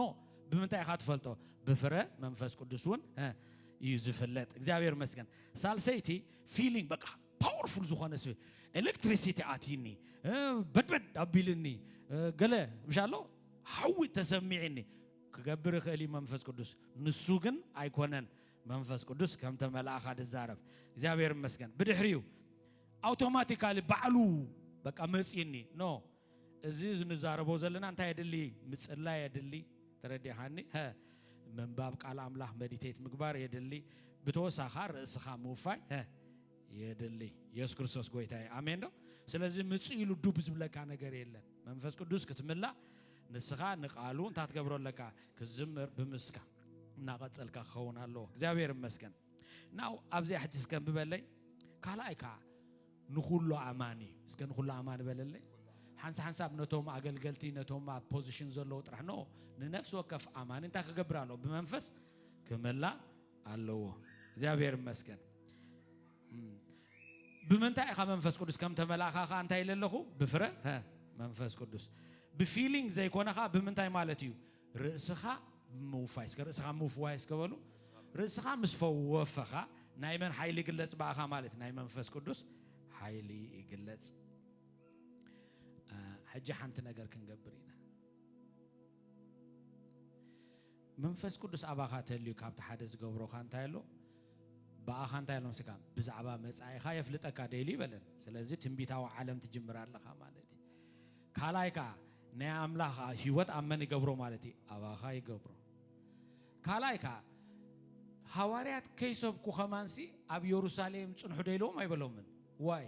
ብምንታይ ኢኻ ትፈልጦ ብፍረ መንፈስ ቅዱስ እውን እዩ ዝፍለጥ እግዚኣብሔር መስገን ሳልሰይቲ ፊሊንግ በቃ ፓወርፉል ዝኾነ ስብ ኤሌክትሪሲቲ ኣትይኒ በድበድ ኣቢልኒ ገለ ምሻ ኣሎ ሓዊ ተሰሚዕኒ ክገብር ይኽእል እዩ መንፈስ ቅዱስ ንሱ ግን ኣይኮነን መንፈስ ቅዱስ ከም ተመልኣኻ ድዛረብ እግዚኣብሔር ይመስገን ብድሕሪኡ ኣውቶማቲካሊ ባዕሉ በቃ መፅኒ ኖ እዚ ንዛረቦ ዘለና እንታይ የድሊ ምፅላይ የድሊ ተረዲኻኒ ምንባብ ቃል ኣምላኽ መዲቴት ምግባር የድሊ ብተወሳኻ ርእስኻ ምውፋይ የድሊ የሱስ ክርስቶስ ጎይታ እዩ ኣሜን ዶ ስለዚ ምፅ ኢሉ ዱብ ዝብለካ ነገር የለን መንፈስ ቅዱስ ክትምላእ ንስኻ ንቃሉ እንታይ ትገብሮ ኣለካ ክዝምር ብምስካ እናቐጸልካ ክኸውን ኣለዎ እግዚኣብሔር እመስገን ናው ኣብዚኣ ሕጂ እስከ ብበለይ ካልኣይ ከዓ ንኩሉ ኣማኒ እስከ ንኩሉ ኣማኒ በለለይ ሓንሳ ሓንሳብ ነቶም ኣገልገልቲ ነቶም ኣብ ፖዚሽን ዘለዉ ጥራሕ ኖ ንነፍሲ ወከፍ ኣማኒ እንታይ ክገብር ኣለዎ ብመንፈስ ክመላእ ኣለዎ እግዚኣብሔር እመስገን ብምንታይ ኢኻ መንፈስ ቅዱስ ከም ተመላእኻ ከዓ እንታይ ኢለ ኣለኹ ብፍረ መንፈስ ቅዱስ ብፊሊንግ ዘይኮነኻ ብምንታይ ማለት እዩ ርእስኻ ምውፋይ እስከ ርእስኻ ምውፍዋይ እስከ በሉ። ርእስኻ ምስ ፈወፈኻ ናይ መን ሓይሊ ይግለጽ በኣኻ ማለት ናይ መንፈስ ቅዱስ ሓይሊ ይግለጽ። ሕጂ ሓንቲ ነገር ክንገብር ኢና። መንፈስ ቅዱስ ኣባኻ ተልዩ ካብቲ ሓደ ዝገብሮኻ እንታይ ኣሎ ብኣኻ እንታይ ኣሎ መስካ ብዛዕባ መጻኢኻ የፍልጠካ ደይሉ ይበለን። ስለዚ ትንቢታዊ ዓለም ትጅምር ኣለኻ ማለት እዩ። ካልኣይ ከኣ ናይ ኣምላኽ ህይወት ኣብ መን ይገብሮ ማለት እዩ? ኣባኻ ይገብሮ። ካልኣይ ከኣ ሃዋርያት ከይሰብኩ ከማንሲ ኣብ የሩሳሌም ጽንሑ ዶ ኢልዎም ኣይበሎምን። ዋይ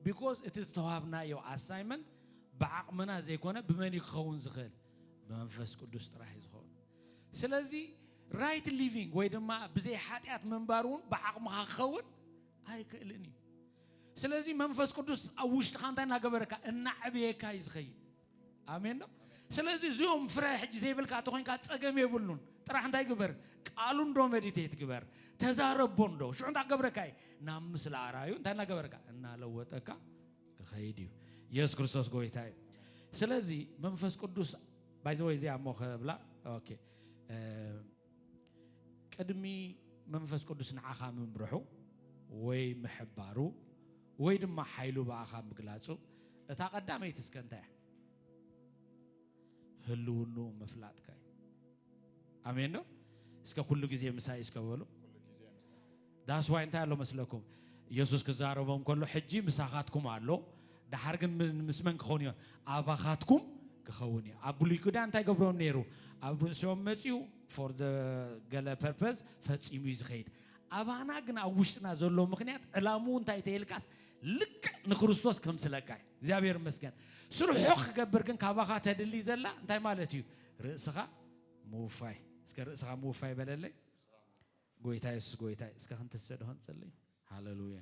ቢኮዝ እቲ ዝተዋህብናዮ ኣሳይመንት ብዓቕምና ዘይኮነ ብመን እዩ ክኸውን ዝኽእል? ብመንፈስ ቅዱስ ጥራሕ እዩ ዝኸውን። ስለዚ ራይት ሊቪንግ ወይ ድማ ብዘይ ሓጢኣት ምንባር እውን ብዓቕምኻ ክኸውን ኣይክእልን እዩ። ስለዚ መንፈስ ቅዱስ ኣብ ውሽጥኻ እንታይ እናገበረካ እናዕብየካ እዩ ዝኸይድ ኣሜን ዶ ስለዚ እዚኦም ፍረ ሕጂ ዘይብልካ እንተኮይንካ ፀገም የብሉን ጥራሕ እንታይ ግበር ቃሉ እንዶ መዲቴት ግበር ተዛረቦ እንዶ ሽዑ እንታይ ክገብረካ እዩ ናብ ምስሊ ኣርኣዩ እንታይ እናገበረካ እናለወጠካ ክኸይድ እዩ የሱስ ክርስቶስ ጎይታ እዩ ስለዚ መንፈስ ቅዱስ ባይዘወይ እዚኣ እሞ ከብላ ኦኬ ቅድሚ መንፈስ ቅዱስ ንዓኻ ምምርሑ ወይ ምሕባሩ ወይ ድማ ሓይሉ ብኣኻ ምግላጹ እታ ቀዳመይቲ እስከ እንታይ እያ? ህልውንኡ ምፍላጥካ እዩ። ኣሜን ነው። እስከ ኩሉ ግዜ ምሳይ እስከ በሉ። That's why እንታይ ኣሎ መስለኩም ኢየሱስ ክዛረቦም ከሎ ሕጂ ምሳኻትኩም ኣሎ ደሓር ግን ምስ መን ክኸውን እዩ ኣባኻትኩም ክኸውን እዩ ኣብ ብሉይ ኪዳን እንታይ ገብሮም ነይሩ ኣብ ርእሲኦም መፅኡ ፎር ገለ ፐርፐዝ ፈፂሙ እዩ ዝኸይድ ኣባና ግን ኣብ ውሽጥና ዘሎ ምክንያት ዕላምኡ እንታይ ተይልካስ ልክዕ ንክርስቶስ ከም ስለካ እዩ እግዚኣብሔር ይመስገን ስርሑ ክገብር ግን ካባኻ ተድሊ ዘላ እንታይ ማለት እዩ ርእስኻ ምውፋይ እስከ ርእስኻ ምውፋይ በለለይ ጎይታ የሱስ ጎይታይ እስከ ክንትስእ ዶ ክንጽሊ ሃለሉያ።